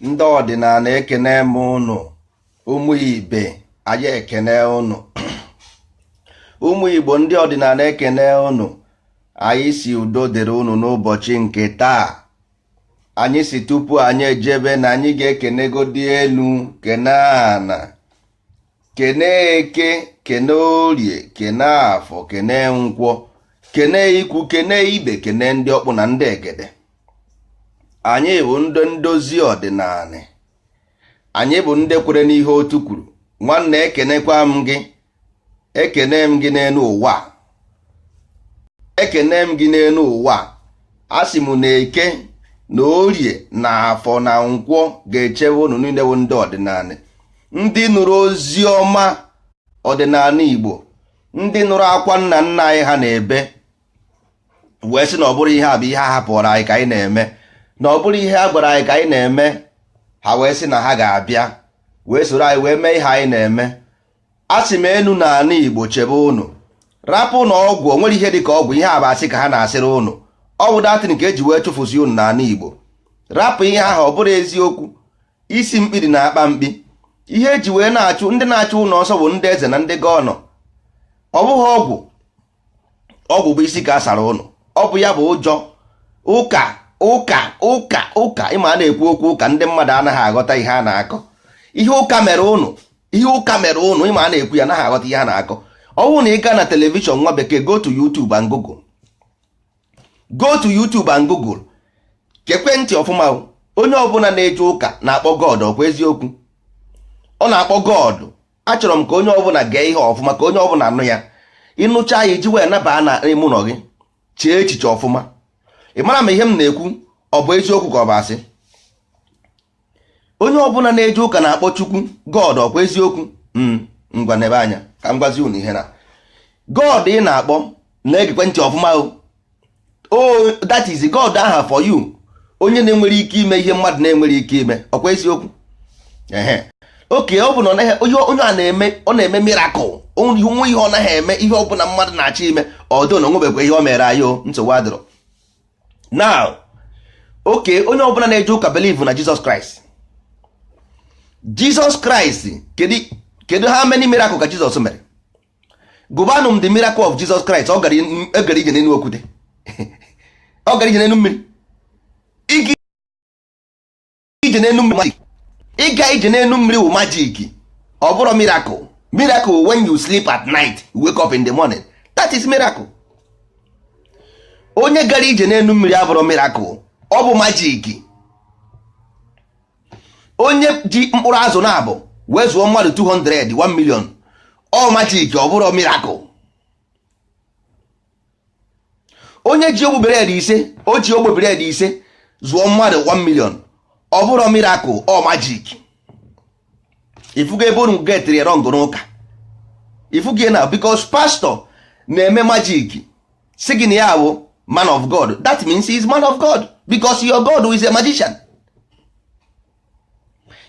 ndị ọdịnala ekene m ụnụ ụmụ ibe anyị ekene ụnụ ụmụ igbo ndị ọdịnala ekene ụnụ anyị sị udo dịrị ụnụ n'ụbọchị nke taa anyị sị tupu anyị ejebe na anyị ga-ekenegodị elu kene ana kene eke kene orie kene afọ kene nkwọ kene ikwu kene ibe kene ndị ọkpụ na ndị egede anyị bụ ndị ndozi ọdịnala anyị bụ ndị kwere n'ihe otu kwuru nwanne ekenekwa m gị ekene m gị n'elu ụwa ekene m gị n'elu ụwa asị m na eke na orie na afọ na nkwọ ga-echebe ụnụ niile bụ ndị ọdịnala ndị nụrụ ozi ọma ọdịnala Igbo ndị nụrụ akwa nna nna anyị ha na-ebe wee sị na ọ bụrọ ihe a bụ ihe a hapụrụ anyị ka anyị na-eme na ọ bụrọ ihe a gwara anyị ka anyị na-eme ha wee sị na ha ga-abịa wee soro anyị wee mee ihe anyị na-eme asị m enu na ana Igbo chebe ụnụ rapụ na ọgwụ o nwerọ ihe dị ka ọgwụ ihe a bụ asị ka ha na-asịrị ụnụ ọ bụ doctrine ka e ji wee chụfụsị ụnụ n'ana Igbo rapụ ihe ahụ ọ bụrọ eziokwu isi mkpi dị na akpa mkpi ihe e ji wee na-achụ ndị na-achụ ụnụ ọsọ bụ ndị eze na ndị gọvanọ ọ bụghị ọgwụ ọgwụ bụ isi ka a sara ụnụ ọ bụ ya bụ ụjọ ụka ụka ụka ụka ị ma a na-ekwu okwu ụka ndị mmadụ anaghị aghọta ihe a na-akọ ihe ụka mere ụnụ ihe ụka mere ụnụ ị ma a na-ekwu ya anaghị aghọta ihe a na-akọ ọ bụrụ na ị gaa na telivishọn nwa bekee go to YouTube and Google go to YouTube and Google gekwe ntị ọfụma onye ọbụla na-eje ụka na-akpọ God ọ kwa eziokwu ọ na-akpọ God achọrọ m ka onye ọbụla gee ihe ọfụma ka onye ọbụla anụ ya ị nụcha ya i ji wee naba n'ime ụnọ gị chee echiche ọfụma ị mara ma ihe m na-ekwu ọ bụ eziokwu ka ọ bụ asị onye ọbụla na-eje ụka na-akpọ chukwu god ọ kwa eziokwu hmm, ngwa nebe anya ka m gwazi unu ihe na god ị na-akpọ na-egekwe ntị ọfụma o oh, that is god aha for you onye na-enwere ike ime ihe mmadụ na-enwerọ ike ime ọ kwa eziokwu okay ọ bụ na onye ọ na-eme ọ na-eme mirakụl o nwe ihe ọ naghị eme ihe ọ bụla mmadụ na-achọ ime ọ dụ na o nwebekwa ihe o mere anyị o nsogbu adịrọ now okay onye ọbụla na-eje ụka believe na Jizọs Kraịst Jizọs Kraịst kedu how many miracle ka Jizọs mere gụbanụ m the miracle of Jizọs Kraịst ọ gara ije n'elu okwute ọ gara ije n'elu mmiri ije n'elu mmiri ịga ije n'elu mmiri wụ magic ọ bụrọ miracle miracle when you sleep at night wake up in the morning that is miracle onye gara ije n'elu mmiri abụrọ miracle ọ bụ magic onye ji mkpụrụ azụ naabọ wee zụọ mmadụ 200 1 million ọ magic ọ bụrọ miracle onye ji ogbe bread ise o ji ogbe bread ise zụọ mmadụ 1 million ọ bụrọ miracle ọ magic ifugo ebe unu getịrị ya wrong n'ụka ifugo na because pastor na-eme magic sị gị na ya bụ man of god that means he is man of god because your god is a magician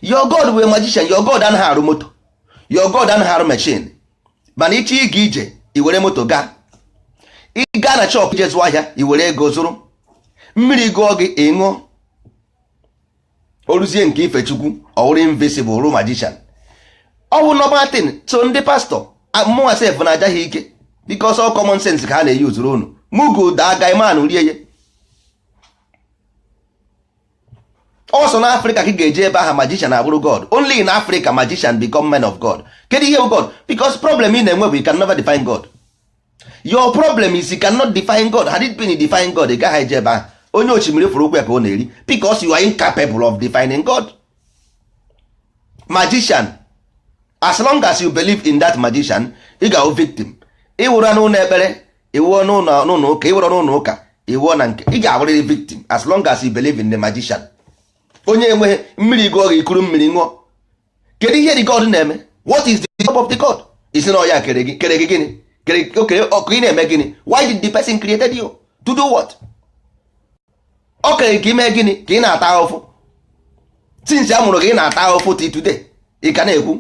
your god wụ a magician your god anaghị arụ moto your god anaghị arụ machine mana ịchọ ịga ije iwere moto gaa ị gaa na shop ije zụọ ahịa iwere ego zụrụ mmiri gụọ gị ị ṅụọ o ruzie nke ife chukwu ọ wụrụ invisible wụrụ magician ọ wụrọ normal thing so ndị pastor mụnwa sef na-aja ha ike because ọ common sense ka ha na-eji ezuru unu mugu daa guyman rie ya ọ sọ na africa ka ị ga-eje ebe aha magician abụrụ god only in africa magician become men of god kedu ihe bụ god because problem ị na-enwe bụ you can never define god your problem is you cannot define god had it been you define god ị gaghị eje ebe aha onye osimiri fụrụ ụkwụ ya ka ọ na-eri because you are incapable of defining god magician as long as you believe in that magician ị ga-awụ victim ị wụrụ n'ụlọ ekpere ị wụọ n'ụlọ ụka ị wụrụ n'ụlọ ụka ị wụọ na nke ị ga-abụrịrị victim as long as you believe in the magician onye enweghị mmiri gụọ gị ikuru mmiri ṅụọ kedu ihe the god na-eme what is the job of the god ị sị na ọ ya kere gị kere gị gịnị kere o kere gị ka ị na-eme gịnị why did the person created you to do what o kere ka i mee gịnị ka ị na-ata ahụfụ since a mụrụ gị ị na-ata ahụfụ till today ị ka na-ekwu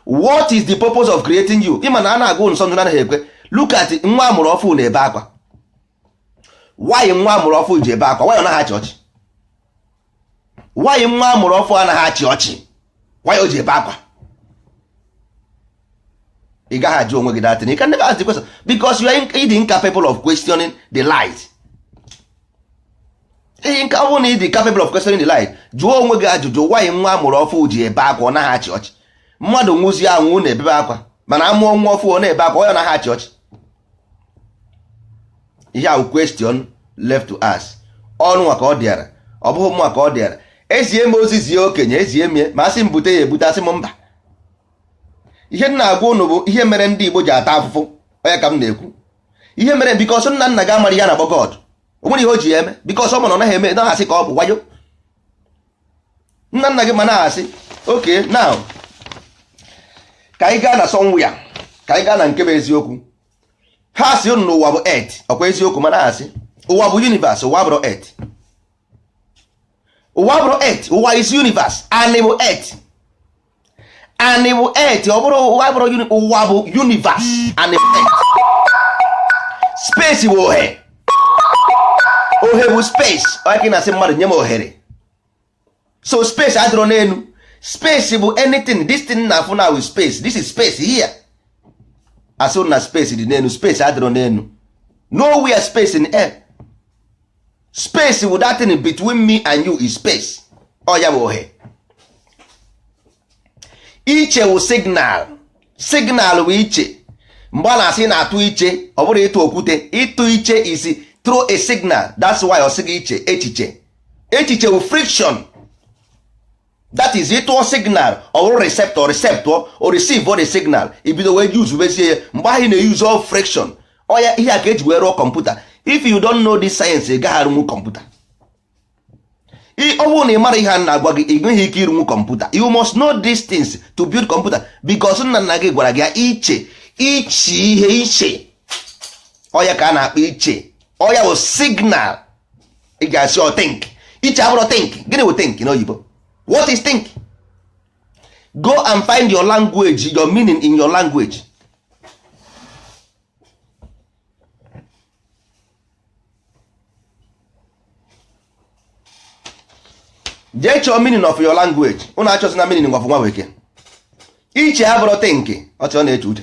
what is the purpose of creating you ị ma na a na-agụ nsọ ndụ anaghị ekwe look at nwa amụrụ ọfụ na-ebe akwa why nwa amụrụ ọfụ ji ebe akwa why ọ naghị achị ọchị why nwa amụrụ ọfụ anaghị achị ọchị why o ji ebe akwa ị gaghị ajụ onwe gị that thing you can never ask the question because you are ịdị incapable of questioning the light ihe nke ọ bụrụ na ịdị capable of questioning the light jụọ onwe gị ajụjụ why nwa amụrụ ọfụ ji ebe akwa ọ naghị achị ọchị mmadụ nwụzie anwụ na-ebebe akwa mana amụọ nwa ọfụ ọ na-ebe akwa why ọ naghị achị ọchị ihe a wụ question left to us ọ ụnụ nwa ka ọ dịara ọ bụghị mụ nwa ka ọ dịara ezie m ozi zie okenye ezie m ya ma asị m bute ya ebute asị m mba ihe m na-agwa ụnụ bụ ihe mere ndị Igbo ji ata afụfụ ọ ya ka m na-ekwu ihe mere because nna nna gị amarọ ihe a na-akpọ God o nwerọ ihe o ji ya eme because ọ ma na ọ naghị eme naghị asị ka ọ bụ wayo nna nna gị ma na-asị okay now ka anyị gaa na somewhere ka anyị gaa na nke bụ eziokwu ha sị unu n'ụwa bụ earth ọkwa eziokwu ma na-asị ụwa bụ universe ụwa abụrọ earth ụwa abụrọ earth ụwa is universe anị bụ earth anị bụ earth ọ bụrọ ụwa ụwa bụ universe anị bụ earth space bụ ohe ohe bụ space ọ ya ka ị na-asị mmadụ nye m ohere so space adịrọ n'enu space bụ anything this thing na-afụ now is space this is space here a sịrị na space dị n'enu space adịrọ n'enu nowhere space in air space wụ that thing between me and you is space ọ ya bụ ohe iche wụ signal signal wụ iche mgbe a na-asị ị na-atụ iche ọ bụrọ ịtụ okwute ịtụ iche is throw a signal that's why ọ sị gị iche echiche echiche wụ friction that is ịtụọ signal ọ wụrụ receptor receptor o receive the signal i bido wee use bezie ya mgbe ahụ ị na-use all friction ọ ya ihe a ka e ji wee rụọ kọmputa if you don't know this science ị gaghị arụnwu kọmputa ọ bụrụ na ị marọ ihe a na-agwa gị ị nweghị ike ịrụnwu kọmputa you must know these things to build kọmputa because nna nna gị gwara gị iche iche ihe iche ọ ya ka a na-akpọ iche ọ ya bụ signal ị ga-asị ọ think iche abụrọ think gịnị wụ think n'oyibo what is think go and find your language your meaning in your language jee chọọ meaning of your language unu achọzina meaning of nwa bekee iche abụrọ think ọchị ọ na-eche uche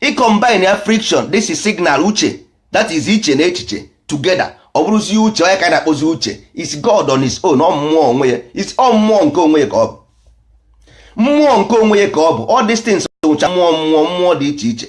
i combine ya friction this is signal uche that is iche na echiche together ọ bụrụzie uche ọ ya ka a na-akpọzi uche is God on his own ọ mmụọ onwe ya is ọ mmụọ nke onwe ya ka ọ bụ mmụọ nke onwe ya ka ọ bụ all these things wụcha mmụọ mmụọ mmụọ dị iche iche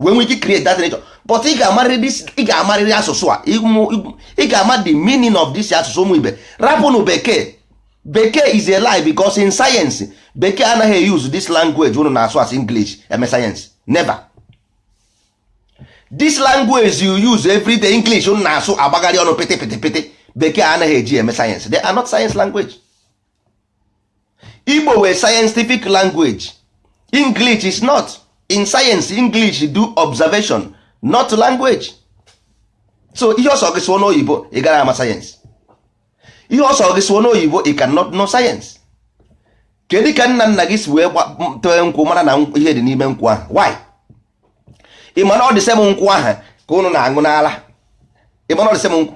wee nwee ike create that nature but ị ga-amarịrị asụsụ a ị ga-ama the meaning of this asụsụ ụmụ ibe rapụnụ bekee bekee is a lie because in science bekee anaghị use this language unu na-asụ as English eme science never this language you use every day English unu na-asụ agbagharị ọnụ pịtị pịtị pịtị bekee anaghị eji eme science they are not science language igbo wụ scientific language english is not in science english do observation not language so ihe ọ sọ gị sụọ n'oyibo ị garọ ama sayensị ihe ọ sọ gị sụọ n'oyibo ị cannot know sayensị kedu ka nna nna gị si wee tee nkwụ mara na ihe dị n'ime nkwụ ahụ why ị ma na ọ the same nkwụ ahụ ka ụnụ na-aṅụ n'ala ị ma na ọ the same nkwụ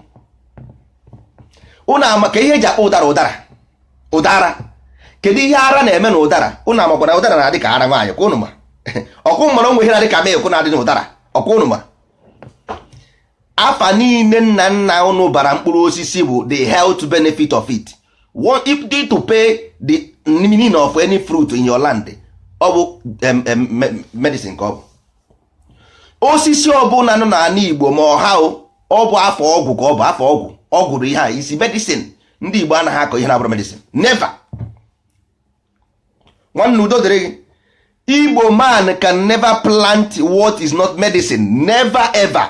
ụnụ amakwa ihe e ji akpọ ụdara ụdara ụdara kedu ihe ara na-eme na ụdara ụnụ amakwa na ụdara na-adị ka ara nwaanyị ọkwa ụnụ ma ọkwa ụnụ mara o nwe ihe na-adị ka milk na-adị na ụdara ọkwa ụnụ ma afa niile nna nna ụnụ bara mkpụrụ osisi bụ the health benefit of it if you interpret the meaning of any fruit in your land ọ bụ medicine ka ọ bụ osisi ọbụla nọ n'ala Igbo ma ọha ọ bụ afa ọgwụ ka ọ bụ afa ọgwụ ọgwụ bụ ihe a sị medicine ndị Igbo anaghị akọ ihe na-abụrọ medicine never nwanne udo dịrị gị igbo man can never plant what is not medicine never ever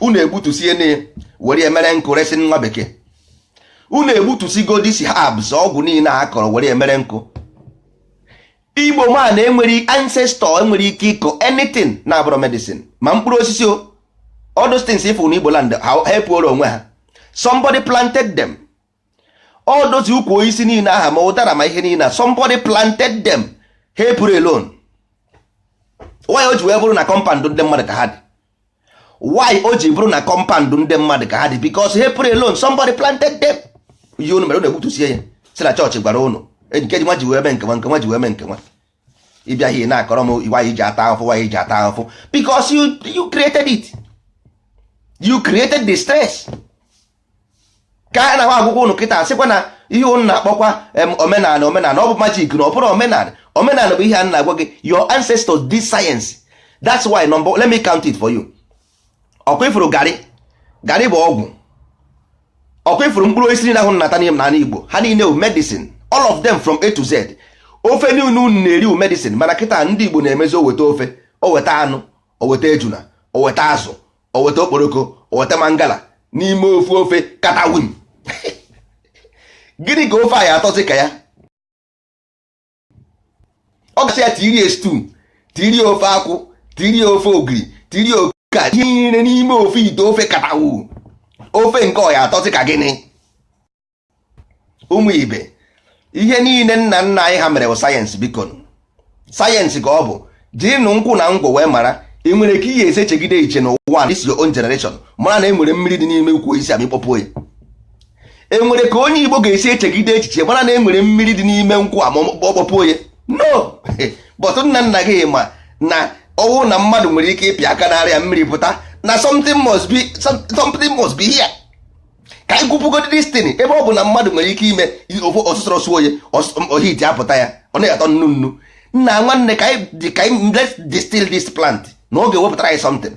unu egbutusie na were ya mere nkụ resị nwa bekee unu egbutusigo these herbs ọgwụ niile a kọrọ were ya mere nkụ igbo man enwerọ ancestor enwerọ ike ịkọ anything na-abụrọ medicine ma mkpụrụ osisi o all those things ị fụ na igbo land ha epuoro onwe ha somebody planted them all those ukwu osisi niile aha ma ụdara ma ihe niile somebody planted them ha epurọ alone why o ji wee bụrụ na compound ndị mmadụ ka ha dị why o ji bụrụ na compound ndị mmadụ ka ha dị because ha epurọ alone somebody planted them ihe unu mere unu egbutusie ya sị na chọọchị gwara unu nke nwa ji wee mee nke nwa nke nwa ji wee mee nke nwa ị bịa ihe na-akọrọ m why i ji ata ahụfụ why i ji ata ahụfụ because you, you created it you created the stress ka a na-agwakwa ụnụ kịta sịkwa na ihe ụnụ na-akpọkwa omenala omenala ọ bụ magic na ọ bụrọ omenala omenala bụ ihe a na-agwa gị your ancestors did science that's why let me count it for you ọkwa ị fụrụ garị garị bụ ọgwụ ọkwa ị fụrụ mkpụrụ osisi niile ahụ unu na-ata n'ala Igbo ha niile bụ medicine all of them from A to Z ofe niile unu na-eri bụ medicine mana kịta ndị Igbo na-emezi o weta ofe o weta anụ o weta ejuna o weta azụ o weta okporoko o weta mangala n'ime ofu ofe katawin gịnị ka ofe a ya-atọzi ka ya ọ ga-esi ya tiri stew tiri ofe akwụ tiri ofe ogiri tiri oke ka ihe niile n'ime ofu ite ofe katawu ofe nke ọ ya-atọzi ka gịnị ụmụ ibe ihe niile nna nna anyị ha mere bụ sayensị biko sayensị ka ọ bụ jirinụ nkwụ na ngwọ wee mara e nwere ka ị ya-esi echegide iche n'ụwa this your own generation mara na e nwere mmiri dị n'ime ukwu osisi amịkpọpụ ya enwere ka onye igbo ga-esi echegide echiche mara na enwere mmiri dị n'ime nkwụ a ma ọ kpọpụ ya no but nna nna gị ma na ọ wụ na mmadụ nwere ike ịpịa aka n'ara ya mmiri pụta na something must be something must be here ka anyị gwupụgodi this thing ebe ọ bụ na mmadụ nwere ike ime ife ọsụsọ suo ya ohiti apụta ya ọ na-atọ nnu nnu nna nwanne ka anyị distil this plant na ọ ga-ewepụtara anyị something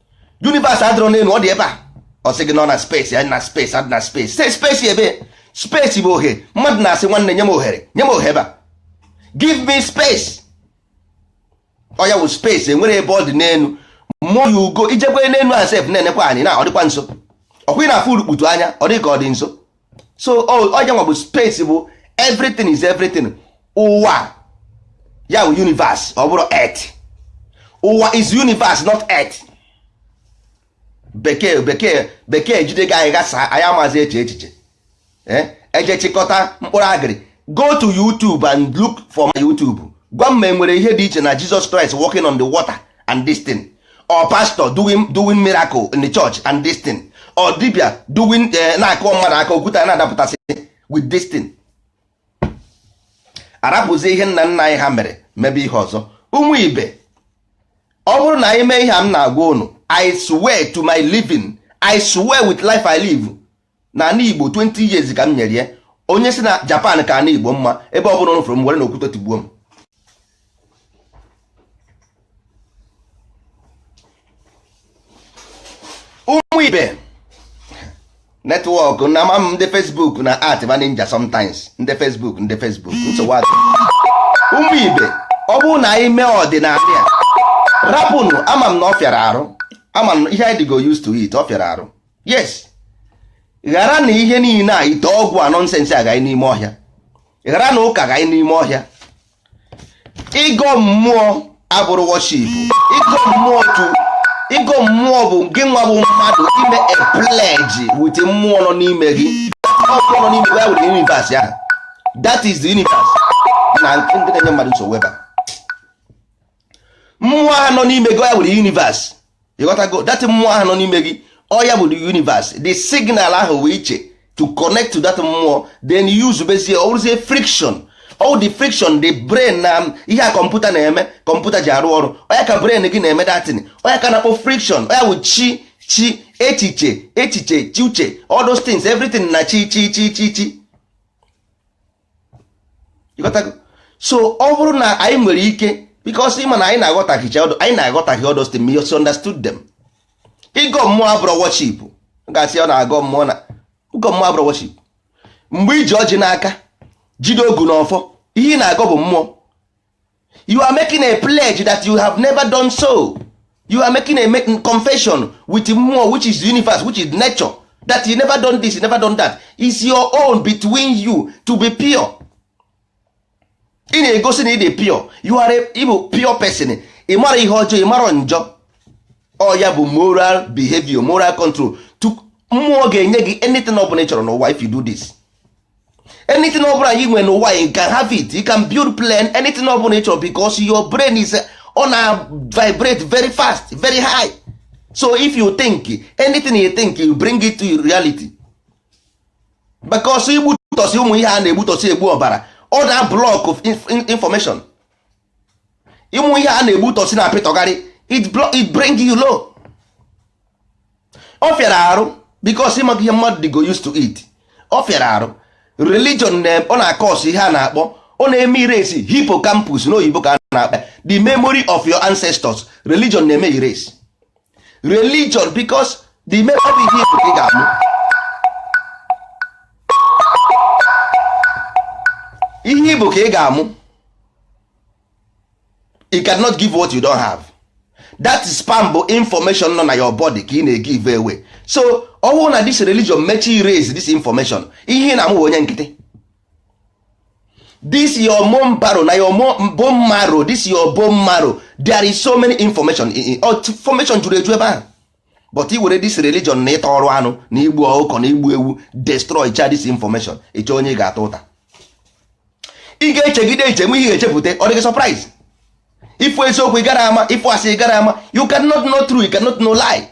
universe adịrọ n'enu ọ dị ebe a ọ sị gị nọ na space ya na space adị na space say space ebe space bụ ohe mmadụ na-asị nwanne nye m ohere nye m ohere ebe a give me space ọ ya wụ space enwerọ ebe ọ dị n'enu mmụọ ya ugo i jekwe n'enu a sef na-enekwa anya na ọ dịkwa nso ọkwa ị na-afụ urukputu anya ọ dị ka ọ dị nso so ọ ya nwa bụ space bụ everything is everything ụwa ya bụ universe ọ bụrọ earth ụwa is universe not earth bekee bekee bekee jide gị anyị ghasa anyị amazi eche echiche eh? e jee chịkọta mkpụrụ agịrị go to YouTube and look for my YouTube gwa m ma enwere ihe dị iche na Jesus Christ walking on the water and this thing or pastor doing doing miracle in the church and this thing or dibia doing eh, na-akụ mmadụ aka okwute na-adapụtasị with this thing arapụzi ihe nna nna anyị ha mere mebe ihe ọzọ ụmụ ibe ọ bụrụ na anyị mee ihe a m na-agwa unu I swear to my living I swear with life I live na ana igbo 20 years ka m nyere ya onye si na japan ka ana igbo mma ebe ọ bụla unu fụrụ m werenụ okwute tigbuo m ụmụ ibe network na ama m ndị Facebook na art ma ninja sometimes ndị Facebook ndị Facebook nsogbu adị ụmụ ibe ọ bụrụ na anyị mee ọdịnala ya rapụnụ ama m na ọ fịara arụ ama m ihe anyị dịgo used to it ọ fịara arụ yes gharanụ ihe niile a ite ọgwụ a nonsense agaghị n'ime ọhịa gharanụ ụka gaghị n'ime ọhịa ịgọ mmụọ abụrọ worship ịgọ mmụọ to ịgọ mmụọ bụ gị nwa bụ mmadụ ime a pledge with mmụọ nọ n'ime gị mmụọ nọ n'ime gị ya wụ the universe ya that is the universe na ndị na-enye mmadụ nsogbu ebe a mmụọ ahụ nọ n'ime gị ọ ya bụ universe ị ghọtago that mmụọ ahụ nọ n'ime gị ọ ya bụ universe the signal ahụ wee iche to connect to that mmụọ then use bezie ọ bụrụzie friction all the friction the brain na um, ihe a kọmputa na-eme kọmputa ji arụ ọrụ ọ ya ka brain gị na-eme that thing ọ ya ka a na-akpọ friction ọ ya bụ chi chi echiche echiche chi uche all those things everything na chi chi chi chi chi so ọ bụrụ na anyị nwere ike because ịma na anyị na-aghọtaghịcha all those anyị na-aghọtaghị all those things misunderstood them ịgọ mmụọ abụrụ worship ga-asị ọ na-agọ mmụọ na ịgọ mmụọ abụrụ worship mgbe i ji ọjị n'aka jide ogu na ọfọ ihe ị na-agọ bụ mmụọ you are making a pledge that you have never done so you are making a confession with mmụọ which is universe which is nature that you never done this you never done that is your own between you to be pure ị na-egosi na ị dị pure you are a ị bụ pure person ị mara ihe ọjọọ ị mara njọ ọ ya bụ moral behavior moral control mmụọ ga-enye gị anything ọ bụla ị chọrọ n'ụwa if you do this anything ọbụla you want n'ụwa you can have it you can build plan anything ọbụla ị chọrọ because your brain is ọ na vibrate very fast very high so if you think anything you think you bring it to reality because igbutọsi ụmụ ihe a na-egbutọsi egbu ọbara ọ na block off information ụmụ ihe a na-egbutọsi na apịtọgharị it bring you low ọ fịara arụ because ịmaka ihe mmadụ dịgo used to it ọ fịara arụ religion ọ na-acause ihe a na-akpọ ọ na-eme erase hippocampus n'oyibo ka a na-akpọ the memory of your ancestors religion na-eme erase religion because the memory of ihe ị bụ ka ị ga-amụ ihe ị bụ ka ị ga-amụ you cannot give what you don't have that sperm bụ information nọ na your body ka ị na-egive away so ọ bụrụ na this religion mechaa erase this information ihe ị na-amụ bụ onye nkịtị this your bone marrow na your bone marrow this your bone marrow there is so many information information juru eju ebe ahụ but i were this religion na ịta ọrụ anụ na igbu ọkụkọ na igbu ewu destroy cha this information ị chọọ onye ị ga-ata ụta ị ga-echegide eche nwe ihe echepụta ọ dịghị surprise ị fụ eziokwu ị gara ama ị fụ asị ị gara ama you cannot know true you cannot know lie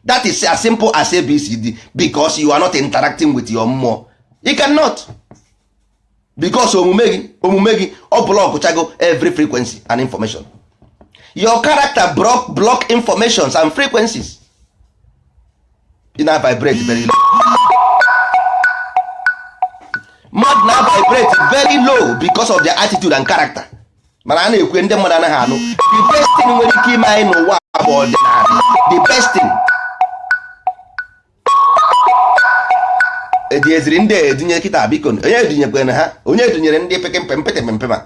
that is as simple as abcd because you are not interacting with your mmụọ you cannot because omume gị omume gị ọ blockchago every frequency and information your character block, block informations and frequencies ị na vibrate very low mmadụ na vibrate very low because of their attitude and character mana a na-ekwu ndị mmadụ anaghị anụ the best thing nwere ike ime anyị n'ụwa bụ ọdịnala the best thing ejieziri ndị edunye kịta biko onye edunyekwana ha onye edunyere ndị pekempempetempema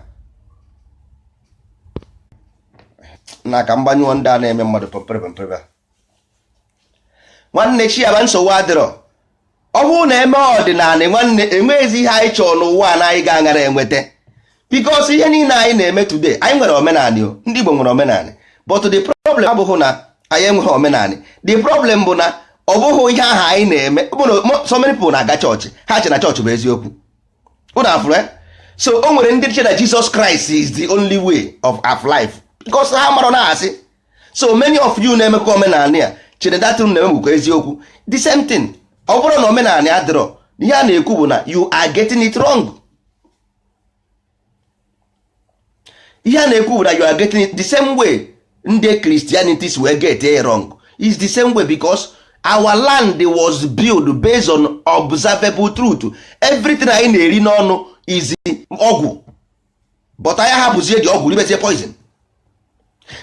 na ka mgbanyụọ ndị a na-eme mmadụ pemperepempere nwanne chiaba nsogbu adịrọ ọ bụrụ na eme ọdịnala nwanne enweghịzi ihe anyị chọrọ n'ụwa a na anyị ga-aghara enweta because ihe niile anyị na-eme today anyị nwere omenanị o ndị Igbo nwere omenanị but the problem abụghị na anyị enweghị omenanị the problem bụ na ọ bụghị ihe ahụ anyị na-eme so many people na-aga chọọchị ha che na chọọchị bụ eziokwu ụnụ afụrụ eh? so o nwere ndị che na Jesus Christ is the only way of of life because ha mara na asị so many of you na-emekwa omenanị ya chere datụrụ na-eme bụkwa eziokwu the same thing ọ bụrọ na omenanị adịrọ ihe a na-ekwu bụ na you are getting it wrong ihe a na-ekwu bụ na you are getting it the same way ndị Christianities wee get it wrong is the same way because our land was built based on observable truth everything anyị na-eri n'ọnụ is ọgwụ but anyị hapụzie the ọgwụ ribezie poison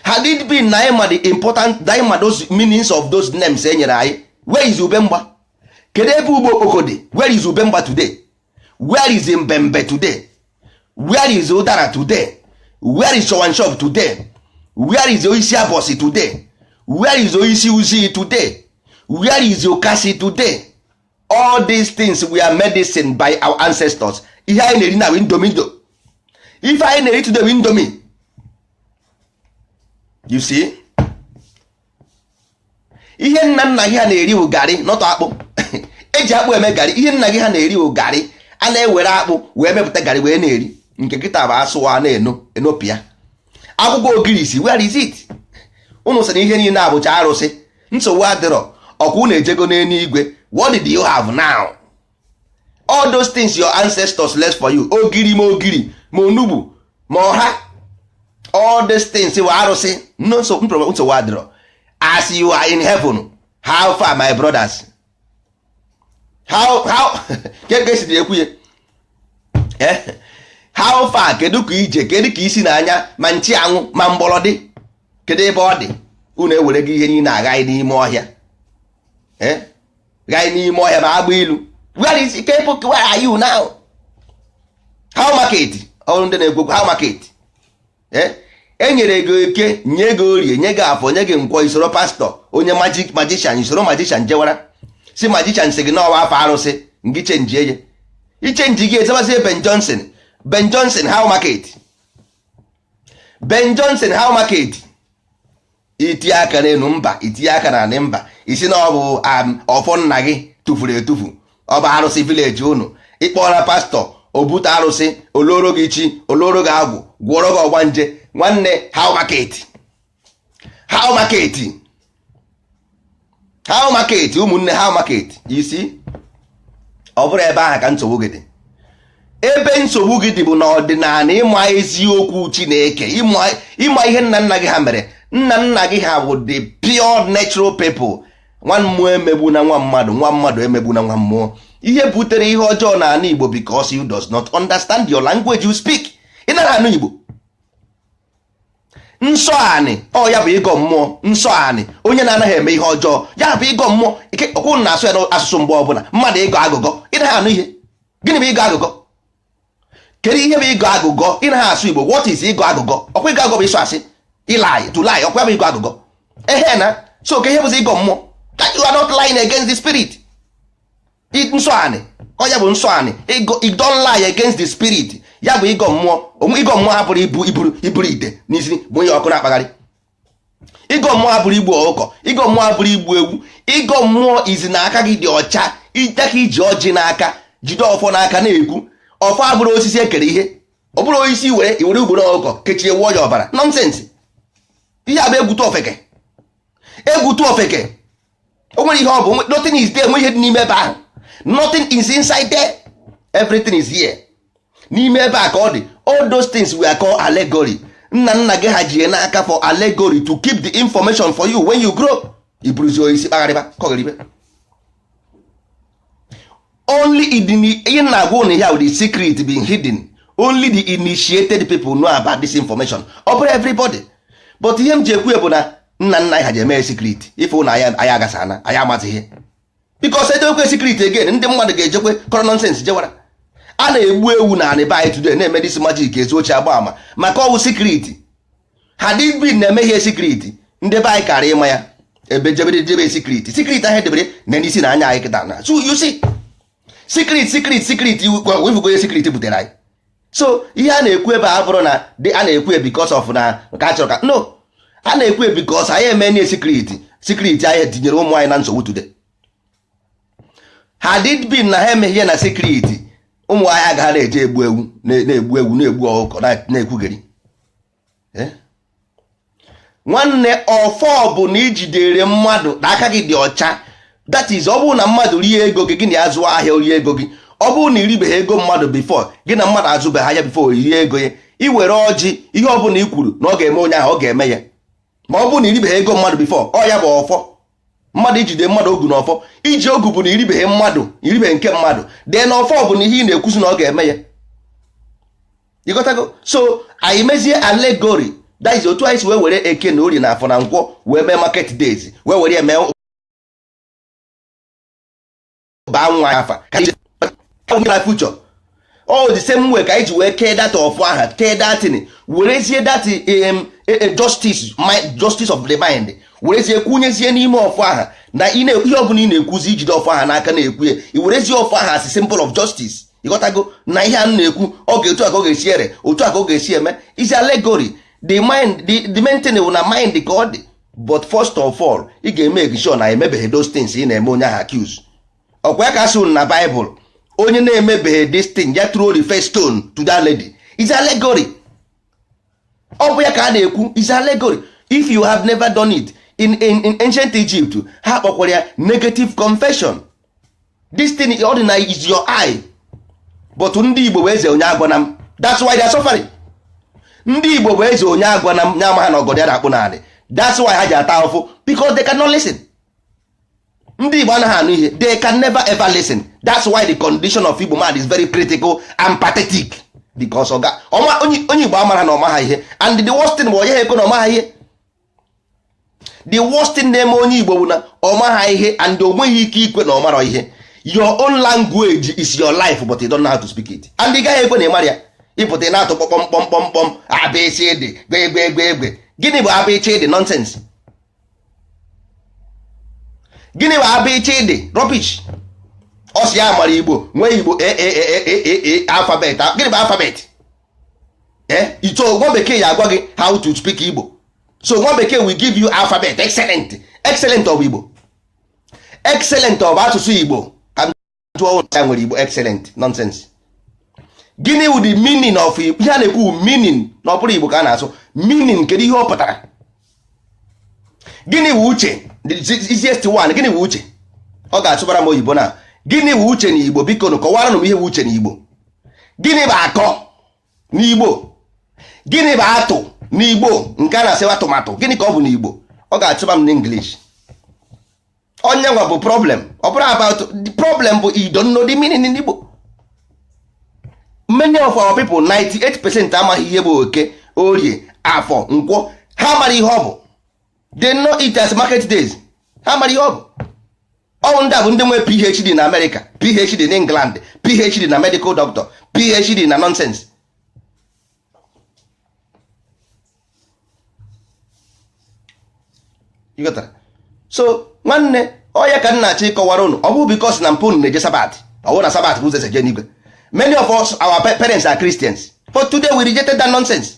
had it been na anyị ma the important na anyị ma those meanings of those names e nyere anyị where is ube mgba kedu ebe ube okpoko dị where is ube mgba today where is mbembe today where is ụdara today where is shop today where is osisi abọsị today where is osisi uzi today where is ọkazị today all these things were medicine by our ancestors ihe anyị na-eri now wụ Indomie ife anyị na-eri today wụ Indomie you see ihe nna nna gị ha na-eri bụ garị not akpụ eji akpụ eme garị ihe nna gị ha na-eri bụ garị a na-ewere akpụ wee mepụta garị wee na-eri nke kịta bụ asụa na-enopịa akwụkwọ ogirisi where is it ụnụ sị na ihe niile abụcha arụsị nsogbu adịrọ ọkwa ụnụ ejego n'eluigwe what did you have now all those things your ancestors left for you ogiri ma ogiri ma onugbu ma ọha all these things were arụsị no nsogbu adịrọ as you are in heaven how far my brothers how how kee ka e si ekwu ya eh? how far kedu ka ije kedu ka isi na anya ma nchuanwụ ma mgbọrọdị kedu ebe ọ dị unu ewerego ihe niile a ghaye n'ime ọhịa eh? ghaye n'ime ọhịa ma agba ilu where is people where are you now how market ọrụ ndị na-ekwu how market eh? e nyere gị eke nye gị orie nye gị afọ nye gị nkwọ i soro pastọ onye magic magician i soro magician jewara sị magician sị gị na ọ wụ afa arụsị ngị chenjie ya i chenjie gị azabazie Ben Johnson Ben Johnson how market Ben Johnson how market i tinye aka n'elu mba i tinye aka na anị mba ị sị na ọ bụ um, ọfọ nna gị tụfuru etufu ọ bụ arụsị village unu ị kpọọla pastor o bute arụsị o loro gị chi o loro gị agwụ gwọrọ gị ọgbanje nwanne how market how market how market ụmụnne how market you see ọ bụrọ ebe ahụ ka nsogbu gị dị ebe nsogbu gị dị bụ na ọdịnanị ịma eziokwu chineke ịma ihe nna nna gị ha mere nna nna gị ha bụ the pure natural people nwa mmụọ emegbuna nwa mmadụ nwa mmadụ emegbuna nwa mmụọ ihe butere ihe ọjọọ na anị igbo because you does not understand your language you speak ị naghị anụ igbo nsọ anị ọ ya bụ ịgọ mmụọ nsọ anị onye na-anaghị eme ihe ọjọọ ya bụ ịgọ mmụọ ike okwu na asụ ya n'asụsụ mgbe ọbụla mmadụ ịgọ agụgọ ị naghị anụ ihe gịnị bụ ịgọ agụgọ kedu ihe bụ ịgọ agụgọ ị naghị asụ igbo what is ịgọ agụgọ ọkwa ịgọ agụgọ bụ ịsụ asị ị lie to lie ọkwa bụ ịgọ agụgọ ehen so kee ihe bụzi ịgọ mmụọ that you are not lying against the spirit nsọ anị ọ ya bụ nsọ anị you don't lie against the spirit ya bụ ịgọ mmụọ onwe ịgọ mmụọ abụrọ ibu iburu iburu ite n'isi bunye ọkụ na-akpagharị ịgọ mmụọ abụrọ igbu ọkụkọ ịgọ mmụọ abụrọ igbu ewu ịgọ mmụọ izi na aka gị dị ọcha aka iji ọjị n'aka jide ọfọ n'aka na-ekwu ọfọ abụrọ osisi ekere ihe ọ bụrọ osisi were i were ugboro ọkụkọ kechie wụọ ya ọbara nonsense ihe a bụ egwu tụ ofeke egwu tụ ofeke o nwerọ ihe ọ bụ nothing is there enwe ihe dị n'ime ebe ahụ nothing is inside there everything is here n'ime ebe a ka ọ dị all those things were called allegory nna nna gị ha ji n'aka for allegory to keep the information for you when you grow i buruzi osisi kpagharịba kọgharịba only ihe na-agwa ụnụ ya the secret being hidden only the initiated people know about this information ọ bụrọ everybody but ihe m ji ekwu bụ na nna nna anyị ha ji eme secret ife ụlọ anyị agasa na anyị amaghị ihe because e dewekwe secret again ndị mmadụ ga-ejekwe kọrọ nonsense jewara a na-egbu ewu na anị be anyị today na-eme this magic ezochie agba ama maka ọ wụ secret had it been na eme ihe secret ndị be anyị kara ịma ya ebe jebere jebe secret secret ahụ edebere na n'isi na anya anyị kịta na so you see secret secret secret ị fụgo ihe secret butere anyị so ihe a na-ekwu ebe a abụrọ na a na-ekwu e because of na ka a chọrọ ka no a na-ekwu e because anyị eme nye secret secret anyị tinyere ụmụ anyị na nsogbu today had it been na ha emeghị ihe na secret ụmụ anyị agaghị na-eje egbu ewu na-egbu ewu na-egbu ọkụkọ na-ekwugheri eh? nwanne ọfọ bụ na ijidere mmadụ na aka gị dị ọcha that is ọ bụrụ na mmadụ rie ego gị gị na ya zụọ ahịa rie ego gị ọ bụrụ na iribeghị ego mmadụ before gị na mmadụ azụbeghị ahịa before rie ego ya i were ọjị ihe ọ bụla i kwuru na ọ ga-eme onye ahụ ọ ga-eme ya ma ọ bụrụ na iribeghị ego mmadụ before ọ ya bụ ọfọ mmadụ ijide mmadụ ogu na ọfọ iji ogu bụ na iribeghị mmadụ iribeghị nke mmadụ then ọfọ bụ na ihe ị na-ekwuzi na ọ ga-eme ya ịghọtago so anyị mezie allegory that is otu anyị si wee were eke na orie na afọ na nkwọ wee mee market days wee were ya mee baa nwa ya afa ka na future all the same way ka anyị ji wee kee that ọfọ aha kee that thing werezie that e, e, justice justice of the mind werezie kwunyezie n'ime ọfọ aha na ihe ọbụla ị na-ekwuzi ijide ọfọ aha n'aka na-ekwu ya i werezie ọfọ aha as symbol of justice ịghọtago na ihe a na-ekwu ọ ga otu a ka ọ ga-esi ere otu a ka ọ ga-esi eme is allegory the mind the, the main thing wụ na mind ka ọ dị but first of all ị ga-eme sure na emebeghị those things ị na-eme onye ahụ accuse ọkwa ya ka a sị na Bible onye na-emebeghị this thing ya throw the first stone to that lady is allegory ọ bụ ya ka a na-ekwu is allegory if you have never done it in, in, in ancient Egypt ha kpọkwara ya negative confession this thing ọdịnanị is your eye but ndị Igbo bụ eze onye agwana m that's why they are suffering ndị Igbo bụ eze onye agwana m nya amaha na ọgọdọ ya na-akpụ n'anị that's why ha ji ata ahụfụ because they cannot listen ndị Igbo anaghị anụ ihe they can never ever listen that's why the condition of Igbo man is very critical and pathetic because oga onye Igbo amarọ na ọmaha ihe and the worst thing bụ onye ha ekwe na ọmaha ihe the worst thing na-eme onye Igbo bụ na ọmaha ihe and o nweghị ike ikwe na ọmarọ ihe your own language is your life but you don't know how to speak it and ị gaghị ekwe na ị marọ ya ịpụta ị na-atụ kpọkpọm kpọmkpọm kpọm abịchịdị gbe gbe gbe gbe gịnị bụ abịchịdị nonsense gịnị bụ abịchịdị rubbish ọ sị ya mara igbo nwee igbo alphabet gịnị bụ alphabet so nwa bekee ya agwa gị how to speak igbo so nwa bekee will give you alphabet excellent excellent of igbo excellent of asụsụ igbo jụọ ụlọ ya nwere igbo excellent nonsense gịnị wụ the meaning of igbo ihe a na-ekwu meaning na ọ bụrụ igbo ka a na-asụ meaning kedu ihe ọ pụtara gịnị wụ uche easiest one gịnị wụ uche ọ ga-asụbara m oyibo na gịnị wụ uche na igbo biko nụ kọwaranụ m ihe wụ uche na igbo gịnị bụ akọ n'igbo gịnị bụ atụ n'igbo nke a na-asịwa atụmatụ gịnị ka ọ bụ n'igbo ọ ga-asụba m n'English onye nwa bụ problem ọ bụrọ about the problem bụ you don't know the meaning in Igbo many of our people 98 percent amaghị ihe bụ eke orie afọ nkwọ ha amarọ ihe ọ bụ they know it as market days ha amarọ ihe ọ bụ ọ wụ ndị a bụ ndị nwee phd na amerịka phd na england phd na medical doctor phd na nonsense so nwanne ọ ya ka m na-achọ ịkọwara ụnụ ọ bụrọ because na mpa m na-eje sabat ọ wụ na sabat bụ ụzọ eje n'igwe many of us our parents are Christians but today we rejected that nonsense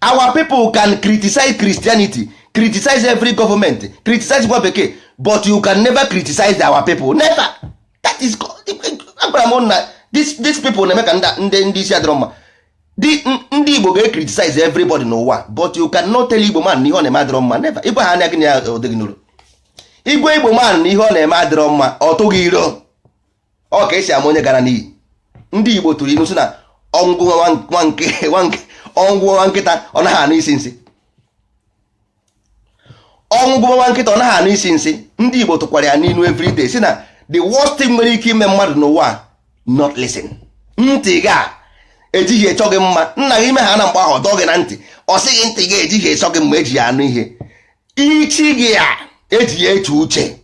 our people can criticize Christianity criticize every government criticize nwa bekee but you can never criticize our people never that is agwara m na these people na-eme ka ndị isi adịrọ mma ndị igbo ga-criticize everybody n'ụwa but you can not tell igbo man na ihe ọ na-eme adịrọ mma never ịgwa ha anya gị na ya odịghị n'ụlọ ịgwa igbo man na ihe ọ na-eme adịrọ mma ọ tụ gị iro ọ ka esi ama onye gara n'iyi ndị igbo tụrụ inu si na ọnwụ gụwa nwa nkịta ọ naghị anụ isi nsị ọnwụ gụba nwa nkịta ọ naghị anụ isi nsị ndị Igbo tụkwara ya n'inu everyday si na the worst thing nwere ike ime mmadụ n'ụwa not listen ntị gị a ejighị achọ gị mma nna gị ime ha na mgbe ahụ ọ dọọ gị na ntị ọ sị gị ntị gị ejighị achọ gị mma eji ya anụ ihe isi gị a eji ya eche uche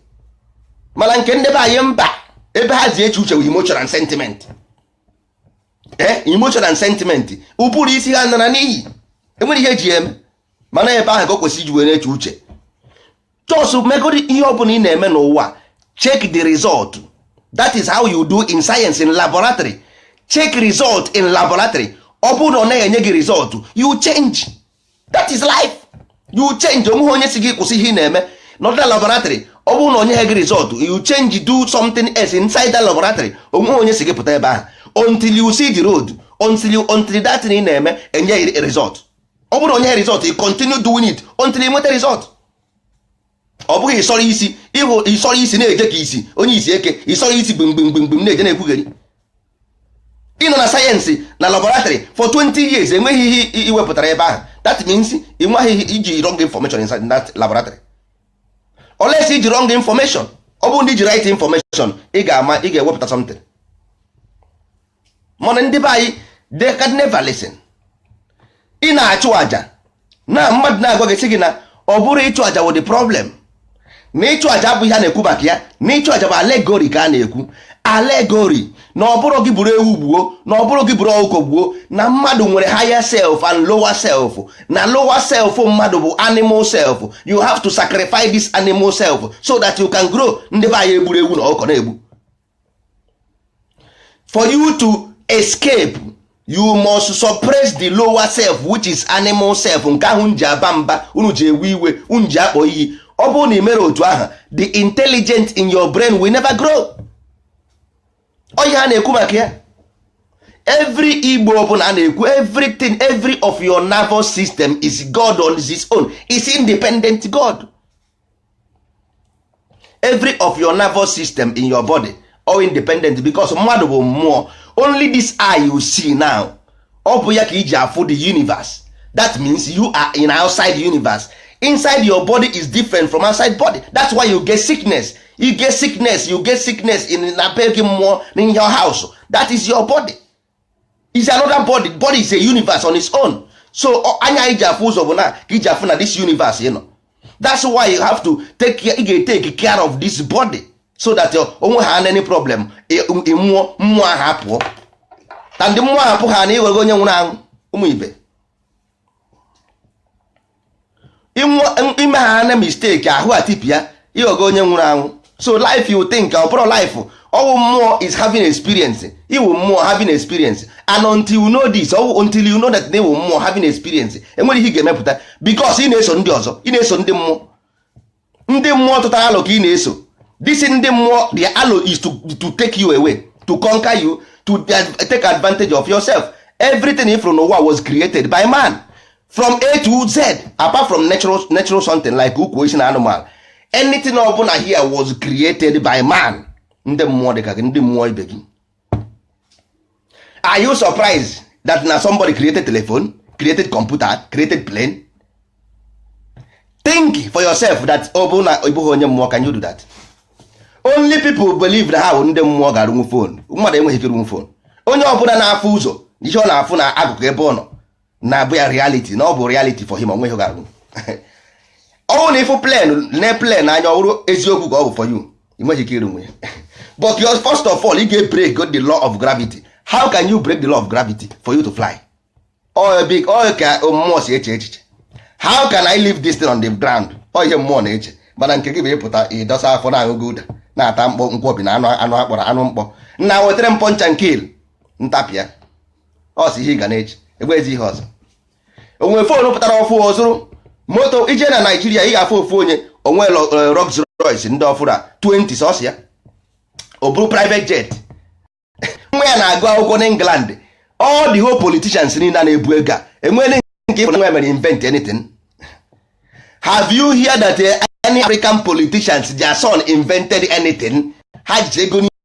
mana nke ndị be anyị mba ebe ha ji eche uche wụ emotion and sentiment ee eh, emotion and sentiment ụbụrụ isi ha nara n'iyi enwere ihe eji eme mana ebe ahụ ka o kwesịrị iji wee na-eche uche just megodi ihe ọ bụla ị na-eme n'ụwa check the result that is how you do in science in laboratory check result in laboratory ọ bụrụ na ọ naghị enye gị result you change that is life you change onweghị onye si gị kwụsị ihe ị na-eme nọdụ na laboratory ọ bụrụ na o nyeghị gị result you change do something else inside that laboratory onweghị onye si gị pụta ebe ahụ until you see the road until you until that thing ị na-eme enye result ọ bụrụ na o nyeghị result ị continue doing it until ị nweta result ọ bụghị ịsọrọ isi ịhụ ịsọrọ isi na-eje ka isi onye isi eke ịsọrọ isi gbimgbimgbimgbim na-eje na-ekwugheri ịnọ na sayensị na laboratory for 20 years enweghị ihe iwepụtara ebe ahụ that means ị nweghị ihe iji wrong information in that laboratory unless iji wrong information ọ bụrụ na iji right information ị ga-ama ị ga-ewepụta something mana ndị be anyị they can never listen ị na-achụ aja na mmadụ na-agwa gị sị gị na ọ bụrọ ịchụ aja wụ the problem na ịchụ aja abụghị ihe a na-ekwu maka ya na ịchụ aja bụ allegory ka a na-ekwu allegory na ọ bụrọ gị buru ewu gbuo na ọ bụrọ gị buru ọkụkọ gbuo na mmadụ nwere higher self and lower self na lower self mmadụ bụ animal self you have to sacrifice this animal self so that you can grow ndị be anyị eburu ewu na ọkụkọ na-egbu for you to escape you must suppress the lower self which is animal self nke ahụ unu ji aba mba unu ji ewe iwe unu ji akpọ iyi ọ bụrụ na ị mere otu ahụ the intelligent in your brain will never grow ọ ihe a na-ekwu maka ya every ihe ọbụla a na-ekwu everything every of your nervous system is god on his own is independent god every of your nervous system in your body all independent because mmadụ bụ mmụọ only this eye you see now ọ bụ ya ka iji afụ the universe that means you are in outside universe inside your body is different from outside body that's why you get sickness you get sickness you get sickness in na be gị mmụọ in your house that is your body is another body body is a universe on its own so anya i ji afụ ụzọ bụ nke i ji afụ na this universe ị nọ that's why you have to take care, you ga take care of this body so that uh, o nwee ha any problem mmụọ mmụọ ahụ apụọ na ndị mmụọ ahụ apụ ha na ị ghọgo onye nwụrụ anwụ ụmụ ibe i mee ha na mistake ahụ atipịa ị ghọgo onye nwụrụ anwụ so life you think ọ bụrọ life ọ wụ mmụọ is having experience ị wụ mmụọ having experience and until you know this ọ wụ until you know that na ị wụ mmụọ having experience enwerọ ihe ị ga-emepụta because ị na-eso ndị ọzọ ị na-eso ndị mmụọ ndị mmụọ tụtara alo ka ị na-eso this ndị mmụọ the alo is to, to take you away to conquer you to take advantage of yourself everything ị fụrụ n'ụwa was created by man from a to z apart from natural, natural something like ukwu osisi na animal anything ọbụla here was created by man ndị mmụọ dị ka gị ndị mmụọ ibe gị are you surprised that na somebody created telephone created computer created plane think for yourself that ọ bụrụ na ị bụghị onye mmụọ can you do that only people believe na ha bụ ndị mmụọ ga-arụnwu phone mmadụ enweghị ike ịrụnwu phone onye ọbụla na-afụ ụzọ ihe ọ na-afụ na akụkụ ebe ọ nọ na-abụ ya reality na ọ bụ reality for him o nweghị ihe ị ga-arụnwu ọ wụrụ na ị fụ plane na plain anya ọ wụrụ eziokwu ka ọ bụ for you ị nweghị ike ịrụnwu ya but first of all ị ga-break the law of gravity how can you break the law of gravity for you to fly ọ bụkwa ka mmụọ si eche echiche how can i leave this thing on the ground ọ ihe mmụọ na-eche mana nke gị bụ ị pụta ị dọsa afọ na-aṅụ gulder na-ata mkpọ nkwọbi na anụ anụ akpọrọ anụ mkpọ nna wetara m point and kill m tapịa ọ sị ihe ị ga na-eji egbe ezi ihe ọzọ o nwee phone pụtara ọfụ ọ zụrụ moto i je na naijiria ị ga-afụ ofu onye o nwee eh, Rolls Royce ndị ọfụrụ a 20 sọsọ ya o buru private jet nwa ya na-agụ akwụkwọ n'England all the whole politicians niile na-ebu ego a enweghị nke ịbụ nwa mere invent anything have you heard that eh, any African politicians their son invented anything ha ji ego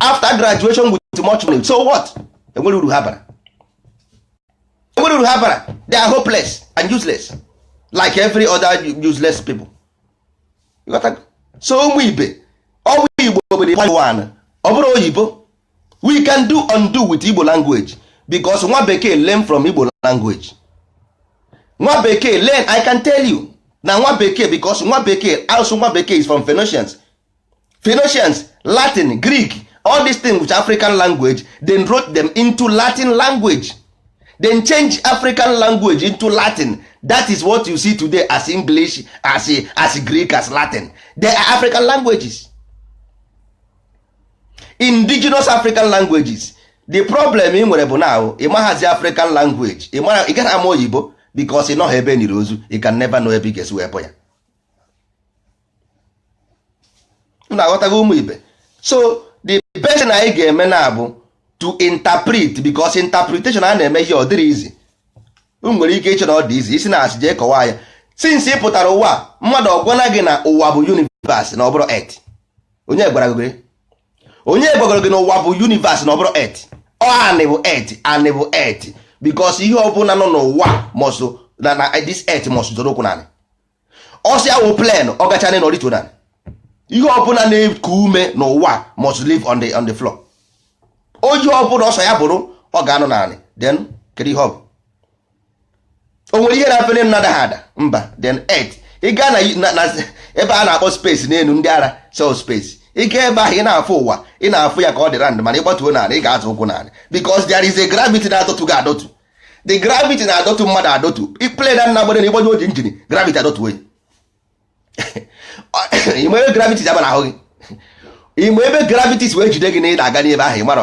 after graduation with much money so what enwere uru ha bara enwere uru ha bara they are hopeless and useless like every other useless people so ụmụ ibe ọnụ igbo bụ the one ọ bụrọ oyibo we can do undo with igbo language because nwa bekee learn from igbo language nwa bekee learn i can tell you na nwa bekee because nwa bekee also nwa bekee is from phoenicians Phoenicians Latin Greek all these things which African language then wrote them into Latin language then change African language into Latin that is what you see today as English as, as Greek as Latin they are African languages indigenous African languages the problem i nwere bụ na ị maghazi African language ị gaghị ama oyibo because ị nọghị ebe e niri ozu you can never know ebe ị ga-esi wee ya na aghọtaghị ụmụ ibe so the best thing anyị ga-eme na abụ to interpret because interpretation na-eme ihe ọ dịrị easy unu nwere ike iche na ọ dị easy isi na asị jee kọwaa ya since ị pụtara ụwa a, mmadụ ọ gwala gị na ụwa bụ universe na ọ bụrọ earth onye gwara gị onye gwagoro gị na ụwa bụ universe na ọ bụrọ earth ọ anị bụ earth anị bụ earth because ihe ọbụla nọ n'ụwa must na na this earth must zọrọ ụkwụ n'anị ọ sọ ya wụ plane ọ gachaa n'enu ọ rịtuo n'anị ihe ọbụla na-eku ume n'ụwa must live on the on the floor onye ọbụla ọ sọ ya bụrụ ọ ga-anọ n'anị then kedu ihe ọ bụ o nwere ihe na-efe n'enu na-adaghị ada mba then earth ị gaa na na ebe a na-akpọ space n'elu ndị ara sị space ị gaa ebe ahụ ị na-afụ ụwa ị na-afụ ya ka ọ dị round mana ị gbatuo n'anị ị ga-azọ ụkwụ n'anị because there is a gravity na-adọtu gị adọtu the gravity na-adọtu mmadụ adọtu plane na nagbere na ị gbanyụọ engine gravity adọtuo ya ị ma ebe gravity ji aba n'ahụ gị ị ma ebe gravity si wee jide gị na ị na-aga n'ebe ahụ ị mara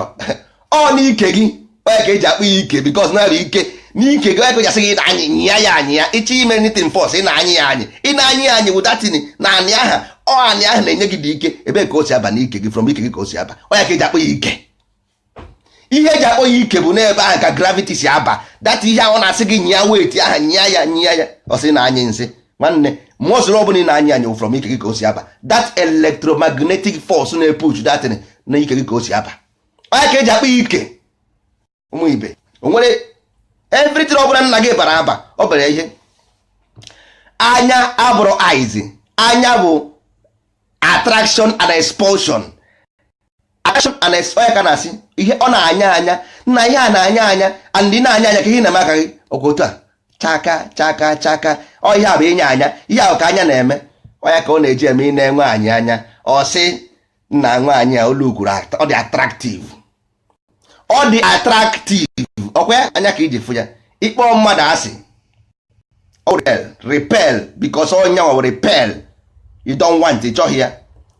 ọ n'ike gị ọ ya ka e ji akpọ ya ike because na bụ ike n'ike gị onye gasị gị na anyị nyịa ya anyị ya ị chọọ ime anything force ị na-anyị ya anyị ị na-anyị ya anyị wụdatini n'anị aha ọ anị ahụ na-enye gị dị ike ebe ka o si aba n'ike gị from ike gị ka o si aba ọ ya ka e ji akpọ ya ike ihe eji akpọ ya ike bụ n'ebe ahụ ka gravity si aba that ihe ahụ na-asị gị nyịa weight ahụ nyịa ya nyịa ya ọ sị na anyị nsị nwanne muscle ọbụla ị na-anya anya from ike gị ka o si aba that electromagnetic force na-epush that thing na ike gị ka o si aba ọ ya ka eji akpọ ike ụmụ ibe o nwere everything ọbụla nna gị bara aba ọ bara ihe anya abụrọ eyes anya bụ attraction and expulsion action and ọ ya ka a na-asị ihe ọ na-anya anya na ihe a na-anya anya and ị na-anya anya ka ihe na-eme aka gị ọkwa otu a chaka chaka chaka ọ ihe a bụ inye anya ihe ahụ ka anya na-eme ọ ya ka ọ na-eji eme ị nee nwaanyị anya ọ sị nna nwaanyị a olu ukwuru ọ dị attractive ọ dị attractive ọkwa anya ka iji fụ ya ị kpọ mmadụ asị ọ repel because ọ ya nwa repel you don't want ị chọghị ya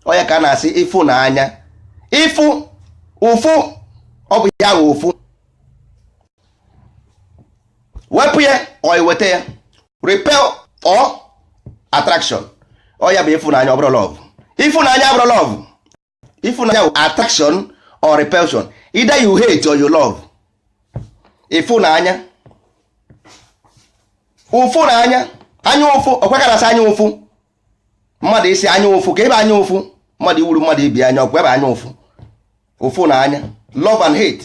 ọ ya ka a na-asị ịfụ na anya ịfụ ụfụ ọ bụ ya nwe ụfụ wepụ ya or iweta ya repel or attraction ọ ya bụ ịfụnanya ọ bụrọ love ịfụnanya abụrọ love ịfụnanya wụ attraction or repulsion either you hate or you love ịfụnanya ụfụ na anya anya ụfụ ọkwa ka a na-asị anya ụfụ mmadụ ị sị anya ụfụ ka ebe anya ụfụ mmadụ iwuru mmadụ ibi anya ọkwa ebe anya ụfụ ụfụ na anya love and hate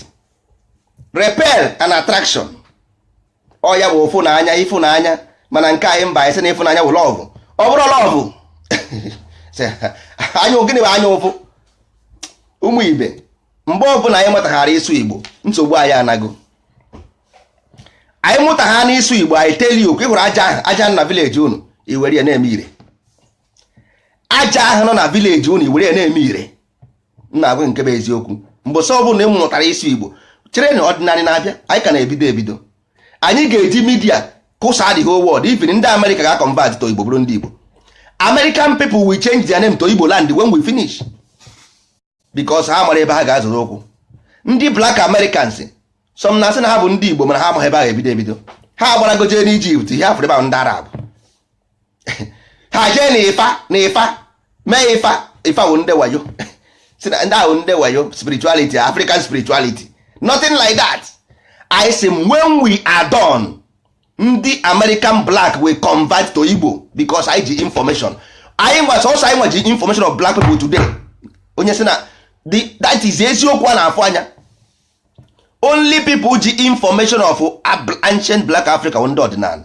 repel and attraction ọ ya bụ ụfụ na anya ịfụ na anya mana nke anyị mba anyị sị na ịfụ na anya bụ love ọ bụrọ love anya gịnị bụ anya ụfụ ụmụ ibe mgbe ọbụla anyị mụtaghara ịsụ igbo nsogbu anyị anago anyị mụta ha n'ịsụ igbo anyị tell okwu ị hụrụ aja ahụ aja nọ na village unu ị were ya na-eme ire aja ahụ nọ na village unu ị were ya na-eme ire m na-agwa nke bụ eziokwu mbọsị ọ bụla ị mụtara ịsụ igbo cherenụ ọdịnala na-abịa anyị ka na-ebido ebido anyị ga-eji media kụsaa the whole world even ndị america ga-convert to igbo bụrụ ndị igbo american people will change their name to igbo land when we finish because ha amarọ ebe ha ga-azọrọ ụkwụ ndị black americans some na-asị na ha bụ ndị Igbo mana ha amaghị ebe ha ga-ebido ebido ha agbarago jee n'Egypt ihe afọ ebe ahụ ndị Arab ha jee na Ifa na Ifa mee Ifa Ifa bụ ndị wayo si na ndị ahụ ndị wayo spirituality African spirituality nothing like that I say when we are done ndị American black will convert to Igbo because anyị ji information anyị nwa sọsọ anyị nwa ji information of black people today onye sị na that is eziokwu a na-afụ anya only people ji information of ancient black africa ndị ọdịnala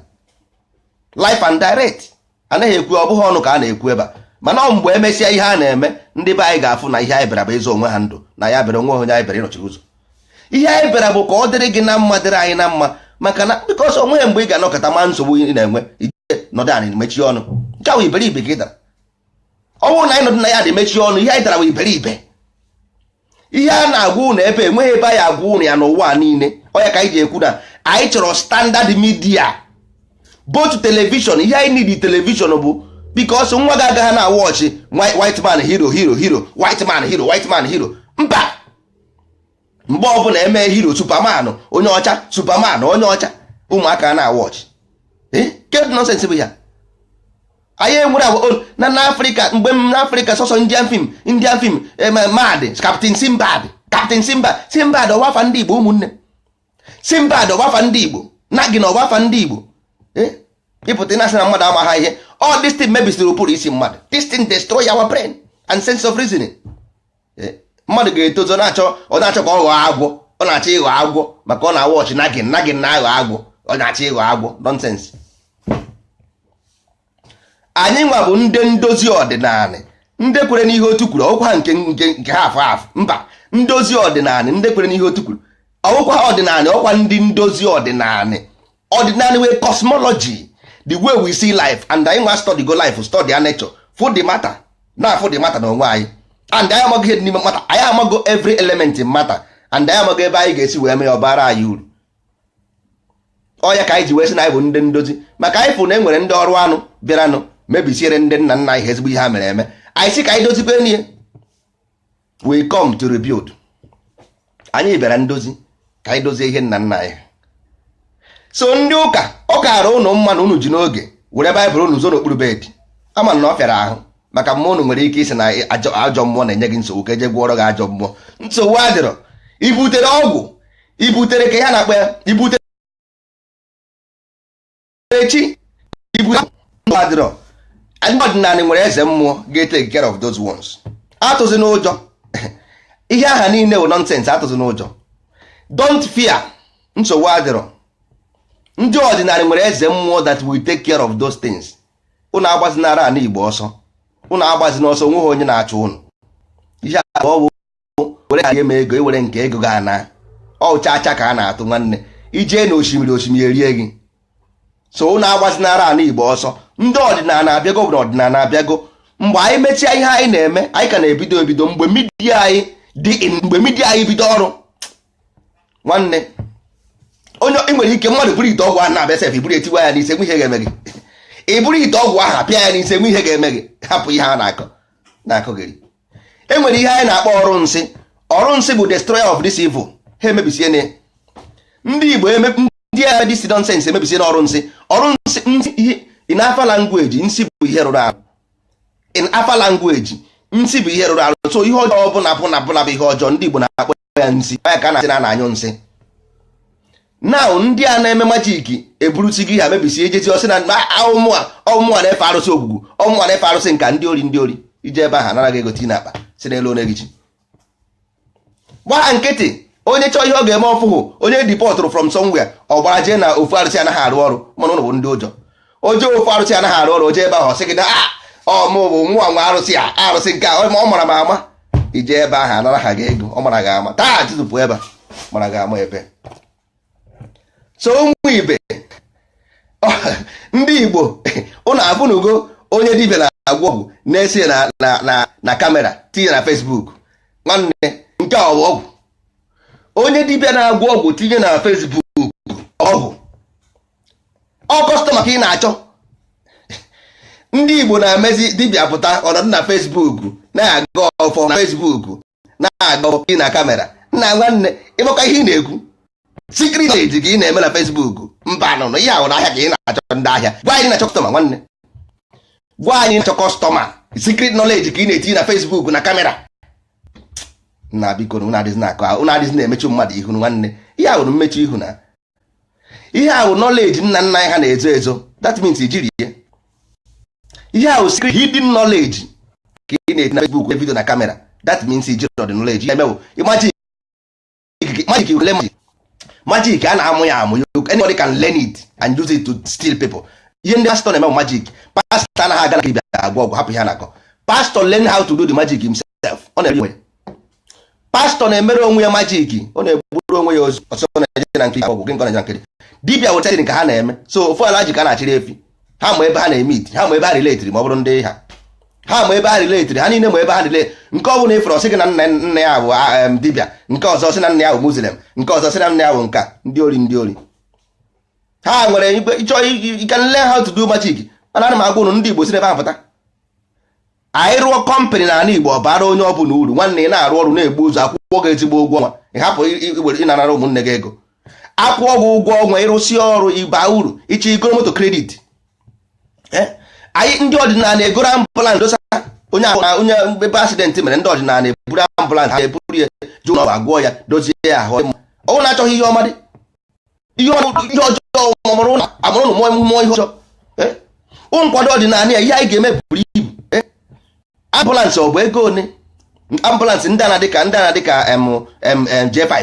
life and direct anaghị ekwu ọ bụghị ọnụ ka a na-ekwu ebe a mana ọ mgbe emesịa ihe a na-eme ndị be anyị ga-afụ na ihe anyị bịara bụ ịzọ onwe ha ndụ na ya bịara onwe onye anyị bịara ịnọchiri ụzọ ihe anyị bịara bụ ka ọ dịrị gị na mma dịrị anyị na mma maka na because onweghị mgbe ị ga-anọkọta ma nsogbu ị na-enwe ije nọdụ anị mechie ọnụ nke ahụ iberibe ka ị dara ọ bụrụ na anyị nọdụ na ya dị mechie ọnụ ihe anyị dara bụ iberibe ihe a na-agwa ụnụ ebe enweghị ebe a ya-agwa ụnụ ya n'ụwa niile ọ ya ka anyị ji ekwu na anyị chọrọ standard media both television ihe anyị need television bụ because nwa gị agaghị na-awatch white man hero hero hero white man hero white man hero mba mgbe ọbụla e mee hero superman onye ọcha superman onye ọcha ụmụaka ana-awatch eh? kedụ nonsense bụ ya anyị enwere agwa oh, na n'africa mgbe m nọ africa sọsọ indian film indian film eh, mard captain simbad captain simbad simbad ọ bụ afa ndị igbo ụmụnne simbad ọ bụ afa ndị igbo nagin ọ bụ afa ndị igbo eh? ị pụta ị na-asị na mmadụ amaghị ihe all this thing mebisiri ụbụrụ isi mmadụ this thing destroy our brain and sense of reasoning eh, mmadụ ga-etozi ọ na-achọ ọ na-achọ ka ọ ghọọ agwọ ọ na-achọ ịghọ agwọ maka ọ na-awatch nagin nagin na-aghọ agwọ ọ na-achọ ịghọ agwọ nonsense anyị nwa bụ ndị ndozi ọdịnala ndị kwere n'ihe otu kwuru ọ wụkwa nke nke nke ha afọ afọ mba ndozi ọdịnala ndị kwere n'ihe otu kwuru ọ wụkwa ọdịnala ọkwa ndị ndozi ọdịnala ọdịnala wụ cosmology the way we see life and anyị nwa study go life study our nature fụ the matter na-afụ the matter na onwe anyị and anyị amago ihe dị n'ime matter anyị amago every element in matter and anyị amago ebe anyị ga-esi wee mee ya ọ baara anyị uru ọ ya ka anyị ji wee sị na anyị bụ ndị ndozi maka anyị fụ na e nwere ndị ọrụ anụ bịaranụ mebisiere ndị nna nna anyị ezigbo ihe ha mere eme anyị sị ka anyị dozikwe n'ihe we come to rebuild anyị bịara ndozi ka anyị dozie ihe nna nna anyị so ndị ụka ọ kaara ụnụ mma na unu ji n'oge were baịbụl unu zoo n'okpuru bed ama m na ọ fịara ahụ maka mmụọ unu nwere ike ịsị na ajọ mmụọ na-enye gị nsogbu ka e jee gwọọrọ gị ajọ mmụọ nsogbu adịrọ ibutere ọgwụ ibutere ke ihe a na-akpọ ya ibutere echi nsogbu adịrọ ndị ọdịnala nwere eze mmụọ ga-etake care of those ones atụzina ụjọ ihe ahụ niile bụ nonsense atụzina ụjọ don't fear nsogbu adịrọ ndị ọdịnala nwere eze mmụọ that will take care of those things ụnụ agbazinara ana igbo ọsọ ụnụ agbazina ọsọ onweghị onye na-achụ ụnụ ihe a bụ were ka eme ego iwere nke ego ga ana ọ chacha ka a na-atụ nwanne ijee na osimiri osimiri erie gị so ụnụ agbazinara ala igbo ọsọ ndị ọdịnala abịago bụ na ọdịnala abịago mgbe anyị mechaa ihe anyị na-eme anyị ka na-ebido ebido mgbe midia anyị dị mgbe midia anyị bido ọrụ nwanne onye ị nwere ike mmadụ buru ite ọgwụ ahụ na-abịa sef i buru etiwa ya n'isi nwe ihe ga-eme gị i buru ite ọgwụ ahụ apịa ya n'isi nwe ihe ga-eme gị hapụ ihe a na-akọ na-akọgheri e nwere ihe anyị na-akpọ ọrụ nsị ọrụ nsị bụ destroyer of this evil ha emebisie na ndị Igbo ndị all this nonsense emebisie na ọrụ nsị ọrụ nsị ihe in afa language nsị bụ ihe rụrụ arụ in afa language nsị bụ ihe rụrụ arụ so ihe ọjọọ ọbụla ọbụla ọbụla bụ ihe ọjọọ ndị Igbo na-akpọ ya nsi ya ka a na-asị na a na-anyụ nsị na ndị a na-eme majiki eburusi gị ha mebisie e jezie ọ sị na ọ mụ mụwa na-efe arụsị ogwugwu ọ mụ mụwa na-efe arụsị nke a ndị ori ndị ori i jee ebe ahụ anara gị ego tii na akpa si n'elu onye gị chi gbaa nkịtị onye chọọ ihe ọ ga-eme ọfụhụ onye dipọtụrụ from somewhere ọ gbara jee na ofu arụsị anaghị arụ ọrụ mana ụnụ bụ ndị ụjọ o jee ofu arụsị anaghị arụ ọrụ o jee ebe ahụ sị gị na ah, ọ mụ bụ nwa nwa arụsị a arụsị nke a ọ mara m ama i jee ebe ahụ anara ha gị ego ọ mara gị ama taa tụtụpụ ebe mara gị ama ebe so ụmụ ibe ndị Igbo ụnụ afụnugo onye dibia na-agwọ ọgwụ na-ese na kamera tinye na Facebook nwanne nke a ọ bụ ọgwụ onye dibia na-agwọ ọgwụ tinye na Facebook ọgwụ ọ kọstọma ka ị na-achọ ndị Igbo na-emezi dibia pụta ọ nọdụ na Facebook na-agọ ọfọ na Facebook na-agọ ọfọ na kamera nna nwanne ị makwa ihe ị na-ekwu secret knowledge ka ị na-eme na Facebook mba nọ na ihe ahụ na ahịa ka ị na-achọ ndị ahịa gwa anyị na-achọ kọstọma nwanne gwa anyị na-achọ kọstọma secret knowledge ka ị na-etinye na Facebook na kamera na biko na ụnụ adịghị na-akọ ụnụ adịghị na-emechu mmadụ ihu nwanne ihe ahụ mmechu ihu na ihe ahụ knowledge nna nna anyị ha na-ezo ezo that means i jirọ ihe ihe ahụ secret hidden knowledge ka ị na-eti na Facebook video na kamera that means i jirọ the knowledge ihe ị na-eme bụ magic magic you learn magic a na-amụ ya amụ anybody can learn it and use it to steal people ihe ndị pastọ na-eme magic pastọ anaghị aga na nke dibia agwọ ọgwụ hapụ ihe a na-akọ pastọ learn how to do the magic himself ọ na-emere onwe ya pastọ na-emere onwe ya majik ọ na-egburu onwe ya ozu ọsọ na-eje na nkiri ọgwụ gị nke na nkiri dibia weta nke ha na-eme so ofu alhaji ka a na-achịrị efi ha ma ebe ha na-emeet ha ma ebe ha riletiri ma ọ bụrụ ndị ha ha ma ebe ha riletiri ha niile ma ebe ha relate nke ọbụla ị fụrụ ọ sị gị na nna nna ya bụ dibia nke ọzọ sị na nna ya bụ muslim nke ọzọ sị na nna ya bụ nke a ndị ori ndị ori ha nwere ị chọọ you can learn how to do magic mana ana m agwa ụnụ ndị Igbo si n'ebe ha pụta anyị rụọ kọmpanị n'ala Igbo ọ bara onye ọbụla uru nwanne ị na-arụ ọrụ na-egbu ụzọ akwụọ gị ezigbo ụgwọ ọnwa ị hapụ ịna-anara ụmụnne gị ego akwụọ gị ụgwọ ọnwa ịrụsịa ọrụ ịba uru ịchọ igoro moto kredit eh? anyị ndị ọdịnala egoro ambụlansị dosa onye ahụ na onye ebe asidentị mere ndị ọdịnala eburu ambụlansị ha eburu ya je ụlọ agwọ ya dozie ya ahụ ọnwụ na-achọghị ihe ọma dị ihe ọjọọ amụrụ ụnụ amụrụ ụnụ mụọ ihe ọjọọ eh? nkwado ọdịnala ya ihe anyị ga-eme buru ibu eh? ambụlansị ọ bụ ego one ambụlansị ndị a na-adịka ndị a na-adịka J5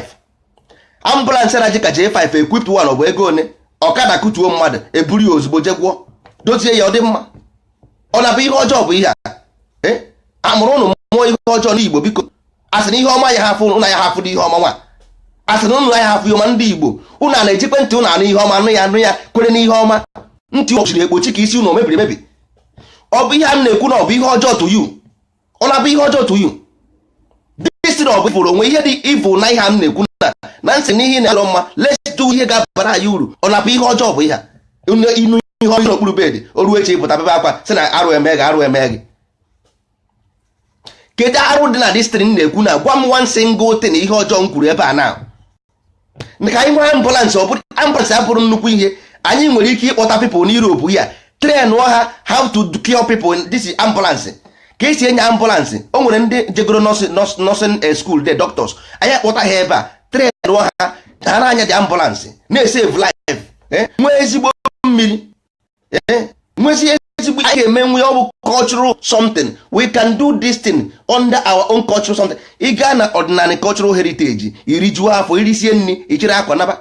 ambụlansị a na-adịka J5 equipped one ọ bụ ego one ọkada kụtuo mmadụ eburu ya ozugbo je gwọọ dozie ya ọ dị mma ọ na-abụ ihe ọjọọ bụ ihe a eh? amụrụ ụnụ mụọ ihe ọjọọ n'Igbo biko asị na ihe ọma ya hafụ ụnụ ya hafụ dị ihe ọma nwa asị na ụnụ ya hafụ ihe ọma ndị Igbo ụnụ a na-ejikwe ntị ụnụ anụ ihe ọma anụ ya anụ ya kwere n'ihe ọma ntị o chiri Igbo echi ka isi ụnụ mebiri emebi ọ bụ ihe a na-ekwu na ọ bụ ihe ọjọọ to you ọ na-abụ ihe ọjọọ to you dịsị na ọ bụ ịfụrụ o nwe ihe dị evil na ihe a m na-ekwu na na m sị na ihe na-alọ mma let's do ihe ga-abara anyị uru ọ na-abụ ihe ọjọọ bụ ihe a inu ihe ọjọọ n'okpuru bedị o ruo echi ịpụta bebe akwa sị na arụ eme gị arụ eme gị kedu arụ dị na this thing na-ekwu na gwa m one single thing ihe ọjọọ m kwuru ebe a na ka anyị nwee ambulance ọ bụrụ ambulance abụrụ nnukwu ihe anyị nwere ike ịkpọta people na Europe ya train ha how to cure people in this ambulance ka esi anya ambulance o nwere ndị jegoro nursing eh, school ndị doctors anyị akpọta ha ebe a train ha ha na-anya the ambulance na-esave life eh, nwee ezigbo mmiri eh, nwezie ezigbo ihe ga-eme nwe ọ bụ cultural something we can do this thing under our own cultural something ị gaa na ọdịnala cultural heritage irijuo afọ irisie nri ịchịrị akwa naba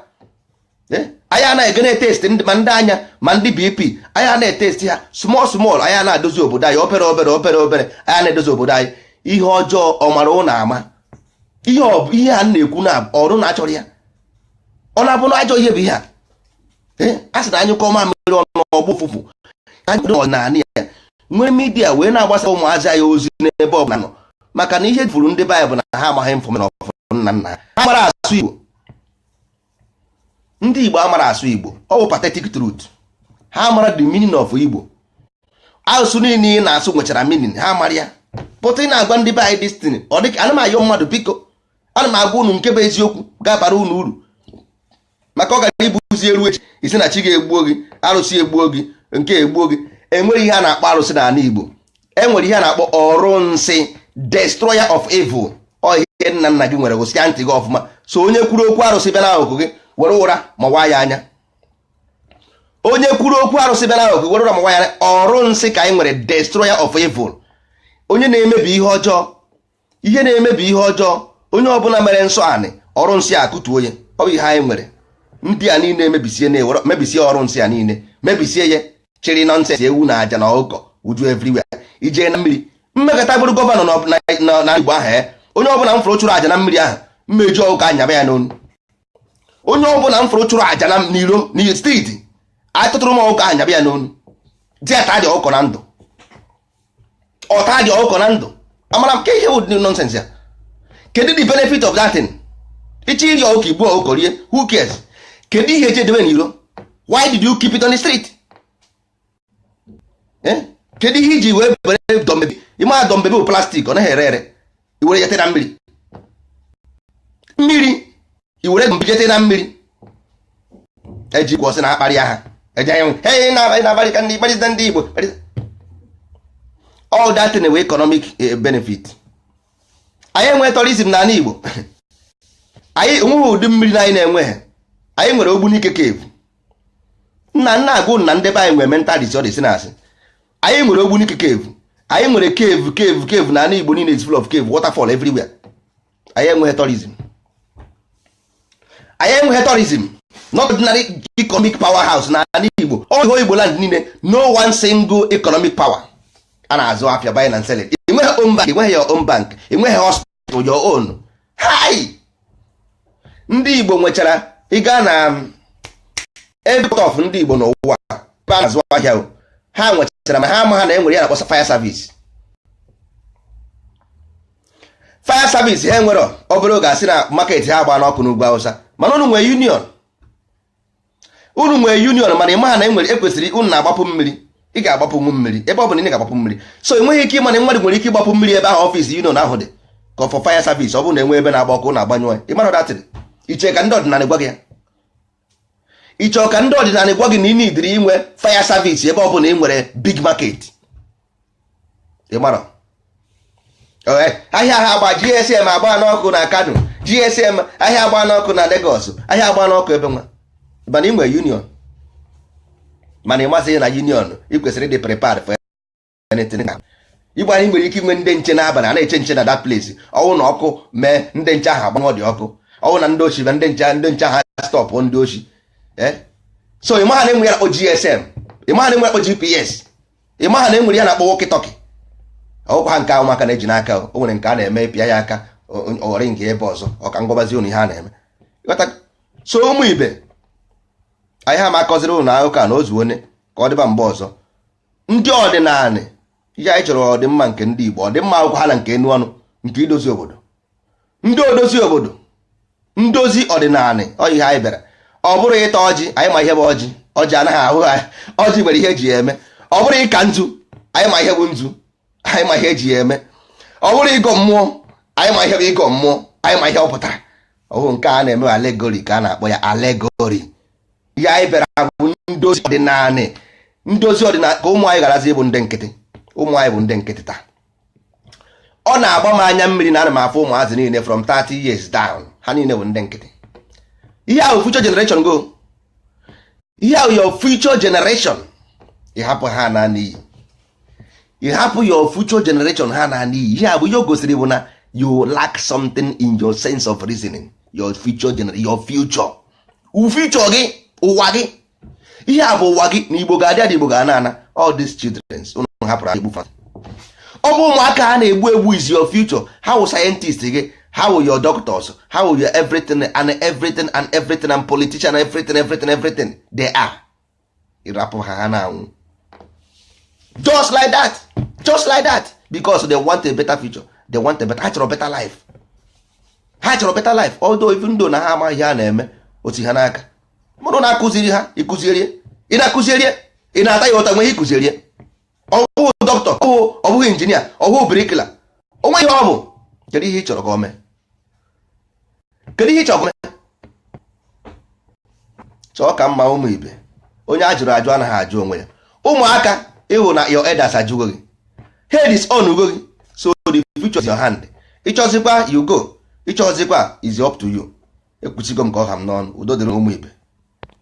eh, anyị anaghị ege na-etesti ndị ma ndị anya ma ndị BP anyị a na-etesti ha small small anyị a na-adozi obodo anyị obere obere obere obere anyị a na-edozi obodo anyị ihe ọjọọ ọ mara ụnụ ama ihe a na-ekwu na ọrụ na-achọrọ ya ọ na-abụ na ajọ ihe bụ ihe a a sị na anyụkọọ mamịrị ọnụ ọ gbọọ ụfụfụ anyị kwere ọdịnala ya nwee midia wee na-agbasa ụmụazị anyị ozi n'ebe ọ bụla ha nọ maka na ihe furu ndị be anyị bụ na ha amaghị infọmeshọn ọfụ nna nna ha mara asụ igbo ndị igbo amara asụ igbo ọ bụ pathetic truth ha mara the meaning of igbo asụsụ niile ị na-asụ nwechara meaning ha mara ya pụta ị na-agwa ndị be anyị this thing ọ dịka ana m ayọ mmadụ biko ana m agwa unu nke bụ eziokwu ga-abara unu uru maka ọ gara ibuzi eru echi ị sị na chi ga-egbuo gị arụsị egbuo gị nke egbuo gị enwere ihe a na-akpọ arụsị n'ala Igbo enwere ihe a na-akpọ ọrụ nsị destroyer of evil ihe nna nna gị nwere gesie ntị gị ọfụma so onye kwuru okwu arụsị bịa n'akụkụ gị were ụra mawaa ya anya onye kwuru okwu arụsị bịa n'akụkụ gị were ụra mawaa ya anya ọrụ nsị ka anyị nwere destroyer of evil onye na-emebi ihe ọjọọ ihe na-emebi ihe ọjọọ onye ọbụla mere nsọ anị ọrụ nsị akụtuo ya ọ bụ ihe anyị nwere ndị a niile mebisie na-ewere mebisie ọrụ nsị a niile mebisie ya chịrị nonsense ewu na aja na ọkụkọ uju everywhere i jee na mmiri m mekọta bụrụ governor na Igbo ahụ eh, onye ọbụla m fụrụ chụrụ aja na mmiri ahụ mmeju ọkụkọ anyaba ya n'onu onye ọbụla m fụrụ chụrụ aja na n'iro in the street atụtụrụ m ọkụkọ anyaba ya n'onu tiata dị ọkụkọ na ndụ ọ tadị ọkụkọ na ndụ amara m ka ihe wụdị nonsense ya kedu the benefit of that thing ị chọọ iri ọkụkọ i gbuo ọkụkọ rie who cares kedu ihe eji edebe n'iro why did you keep it on the street Eh? kedu ihe i ji wee were doll baby ị ma doll baby bụ plastic ọ naghị ere ere i were jete na mmiri mmiri i were doll baby jete na mmiri ejikwa sị na akparịa ha eji anyị hey na-abalị na-abalị ka ndị kparịta ndị Igbo all that enweghị economic eh, benefit anyị enweghị tourism n'ala Igbo anyị onweghị ụdị mmiri na anyị na-enweghị anyị nwere Ogbunike cave nna nna agụ na ndị be anyị nwere mental disorder ị sị na asị anyị nwere Ogbunike cave anyị nwere cave cave cave na ala Igbo niile is full of cave waterfall everywhere anyị enweghị tourism anyị enweghị tourism no ordinary economic powerhouse na ala Igbo all whole Igbo land niile no one single economic power a na-azụ afịa buying and selling i nweghị own bank i nweghị your own bank i nweghị hospital to your own hi ndị Igbo nwechara ị gaa na um, every of ndị Igbo n'ụwa ebe a na-azụ ahịa o. ha nwechara ma ha amaha na enwere ihe a na-akpọ fire service fire service ha enwere obere oge a sị na market ha gbaa n'ọkụ n'ugwu Hausa mana unu nwere union unu nwere union mana ị maha na enwere ekwesịrị unu na-agbapụ mmiri ị ga-agbapụnwu mmiri ebe ọ bụla ị ga-agbapụ mmiri so enweghị ike ị ma na mmadụ nwere ike ịgbapụ mmiri ebe ahụ office union ahụ dị ka for fire service ọ bụrụ na enwe ebe na-agba ọkụ na-agbanyụ ya ịmara datịrị i che ka ndị ọdịnala gwa gị ya i che ka ndị ọdịnala gwa gị na ị needịrị inwe fire service ebe ọ bụla ị nwere big market ịmara ahịa ha agba gsm agba n'ọkụ na kano gsm ahịa agba n'ọkụ na Lagos ahịa agba n'ọkụ ebe nwa mana ị nwere union mana ị ma sị na union ị kwesịrị ịdị prepare for anything Igbo anyị nwere ike inwe ndị nche n'abalị a na-eche nche na that place ọ wụ na ọkụ mee ndị nche ahụ agbanyụọ the ọkụ ọ wụ na ndị oshi na ndị nche ndị nche ha stop ndị oshi so ị maghị na e nwe ihe a na-akpọ gsm ị maghị na e nwe ihe a na-akpọ gps ị maha na e nwere ihe a na-akpọ walkie-talkie ọ wụkwaha nke ụmụaka na-eji n'aka o nwere nke a na-eme pịa ya aka o ringie ebe ọzọ ọ ka m gwabazi ụnụ ihe a na-eme so ụmụ ibe anyị ha ma akọziri ụnụ akụkọ a na ozu onye ka ọ dịba mgbe ọzọ ndị ọdịnanị ihe anyị chọrọ ọdịmma nke ndị Igbo ọdịmma ọ wụkwaha na nke enu ọnụ nke idozi obodo ndị odozi obodo ndozi ọdịnanị ọ ihe anyị bịara ọ bụrụ ịta ọjị anyị ma ihe bụ ọjị ọjị anaghị ahụ ha ọjị nwere ihe eji ya eme ọ bụrụ ịka nzu anyị ma ihe bụ nzu anyị ma ihe eji ya eme ọ bụrụ ịgọ mmụọ anyị ma ihe bụ ịgọ mmụọ anyị ma ihe ọ pụtara ọ wụghị nke a na-eme allegory ka a na-akpọ ya allegory ihe anyị bịara bụ ndozi ọdịnanị ndozi ọdịnanị ka ụmụ anyị gharazi ịbụ ndị nkịtị ụmụ anyị bụ ndị nkịtị taa ọ na-agba m anya mmiri na ana m afụ ụmụazị niile from 30 years down ha niile bụ ndị nkịtị ihe a wụ future generation go ihe a wụ your future generation ị hapụ ha anaa n'iyi ị hapụ your future generation ha anaa n'iyi ihe a bụ ihe o gosiri bụ na you lack something in your sense of reasoning your future generation your future future gị ụwa gị ihe a bụ ụwa gị na igbo ga-adị adị igbo ga-ana ana all these children ụnụ hapụrụ egbu fa ọ bụ ụmụaka ha na-egbu egbu is your future ha wụ scientist gị ha wụ your doctors ha wụ your everything and everything and everything and politician everything everything everything they are ị rapụ ha ha na-anwụ just like that just like that because they want a better future they want a better ha chọrọ better life ha chọrọ better life although even though na ha amaghị ihe a na-eme otu ha n'aka mụrụ na-akụziri ha ị kụziere ya ị na-akụziere ya ị na-ata ya ụta o nwe ihe ị kụziere ya ọ bụghị doctor ọ bụghị engineer ọ wụghị bricklayer o nweghị ihe ọ bụ kedu ihe ị chọrọ ka ọ mee kedu ihe ị chọrọ ka ọ mee chọọ ka mma ụmụ ibe onye a jụrụ ajụ anaghị ajụ onwe ya ụmụaka ị hụ na your elders ajụgo gị ha disownụgo gị so the future is your hand ị chọzikwa you go ị chọzikwa is up to you ekwusigo m ka ọ ha m n'ọnụ udo dịrị ụmụ ibe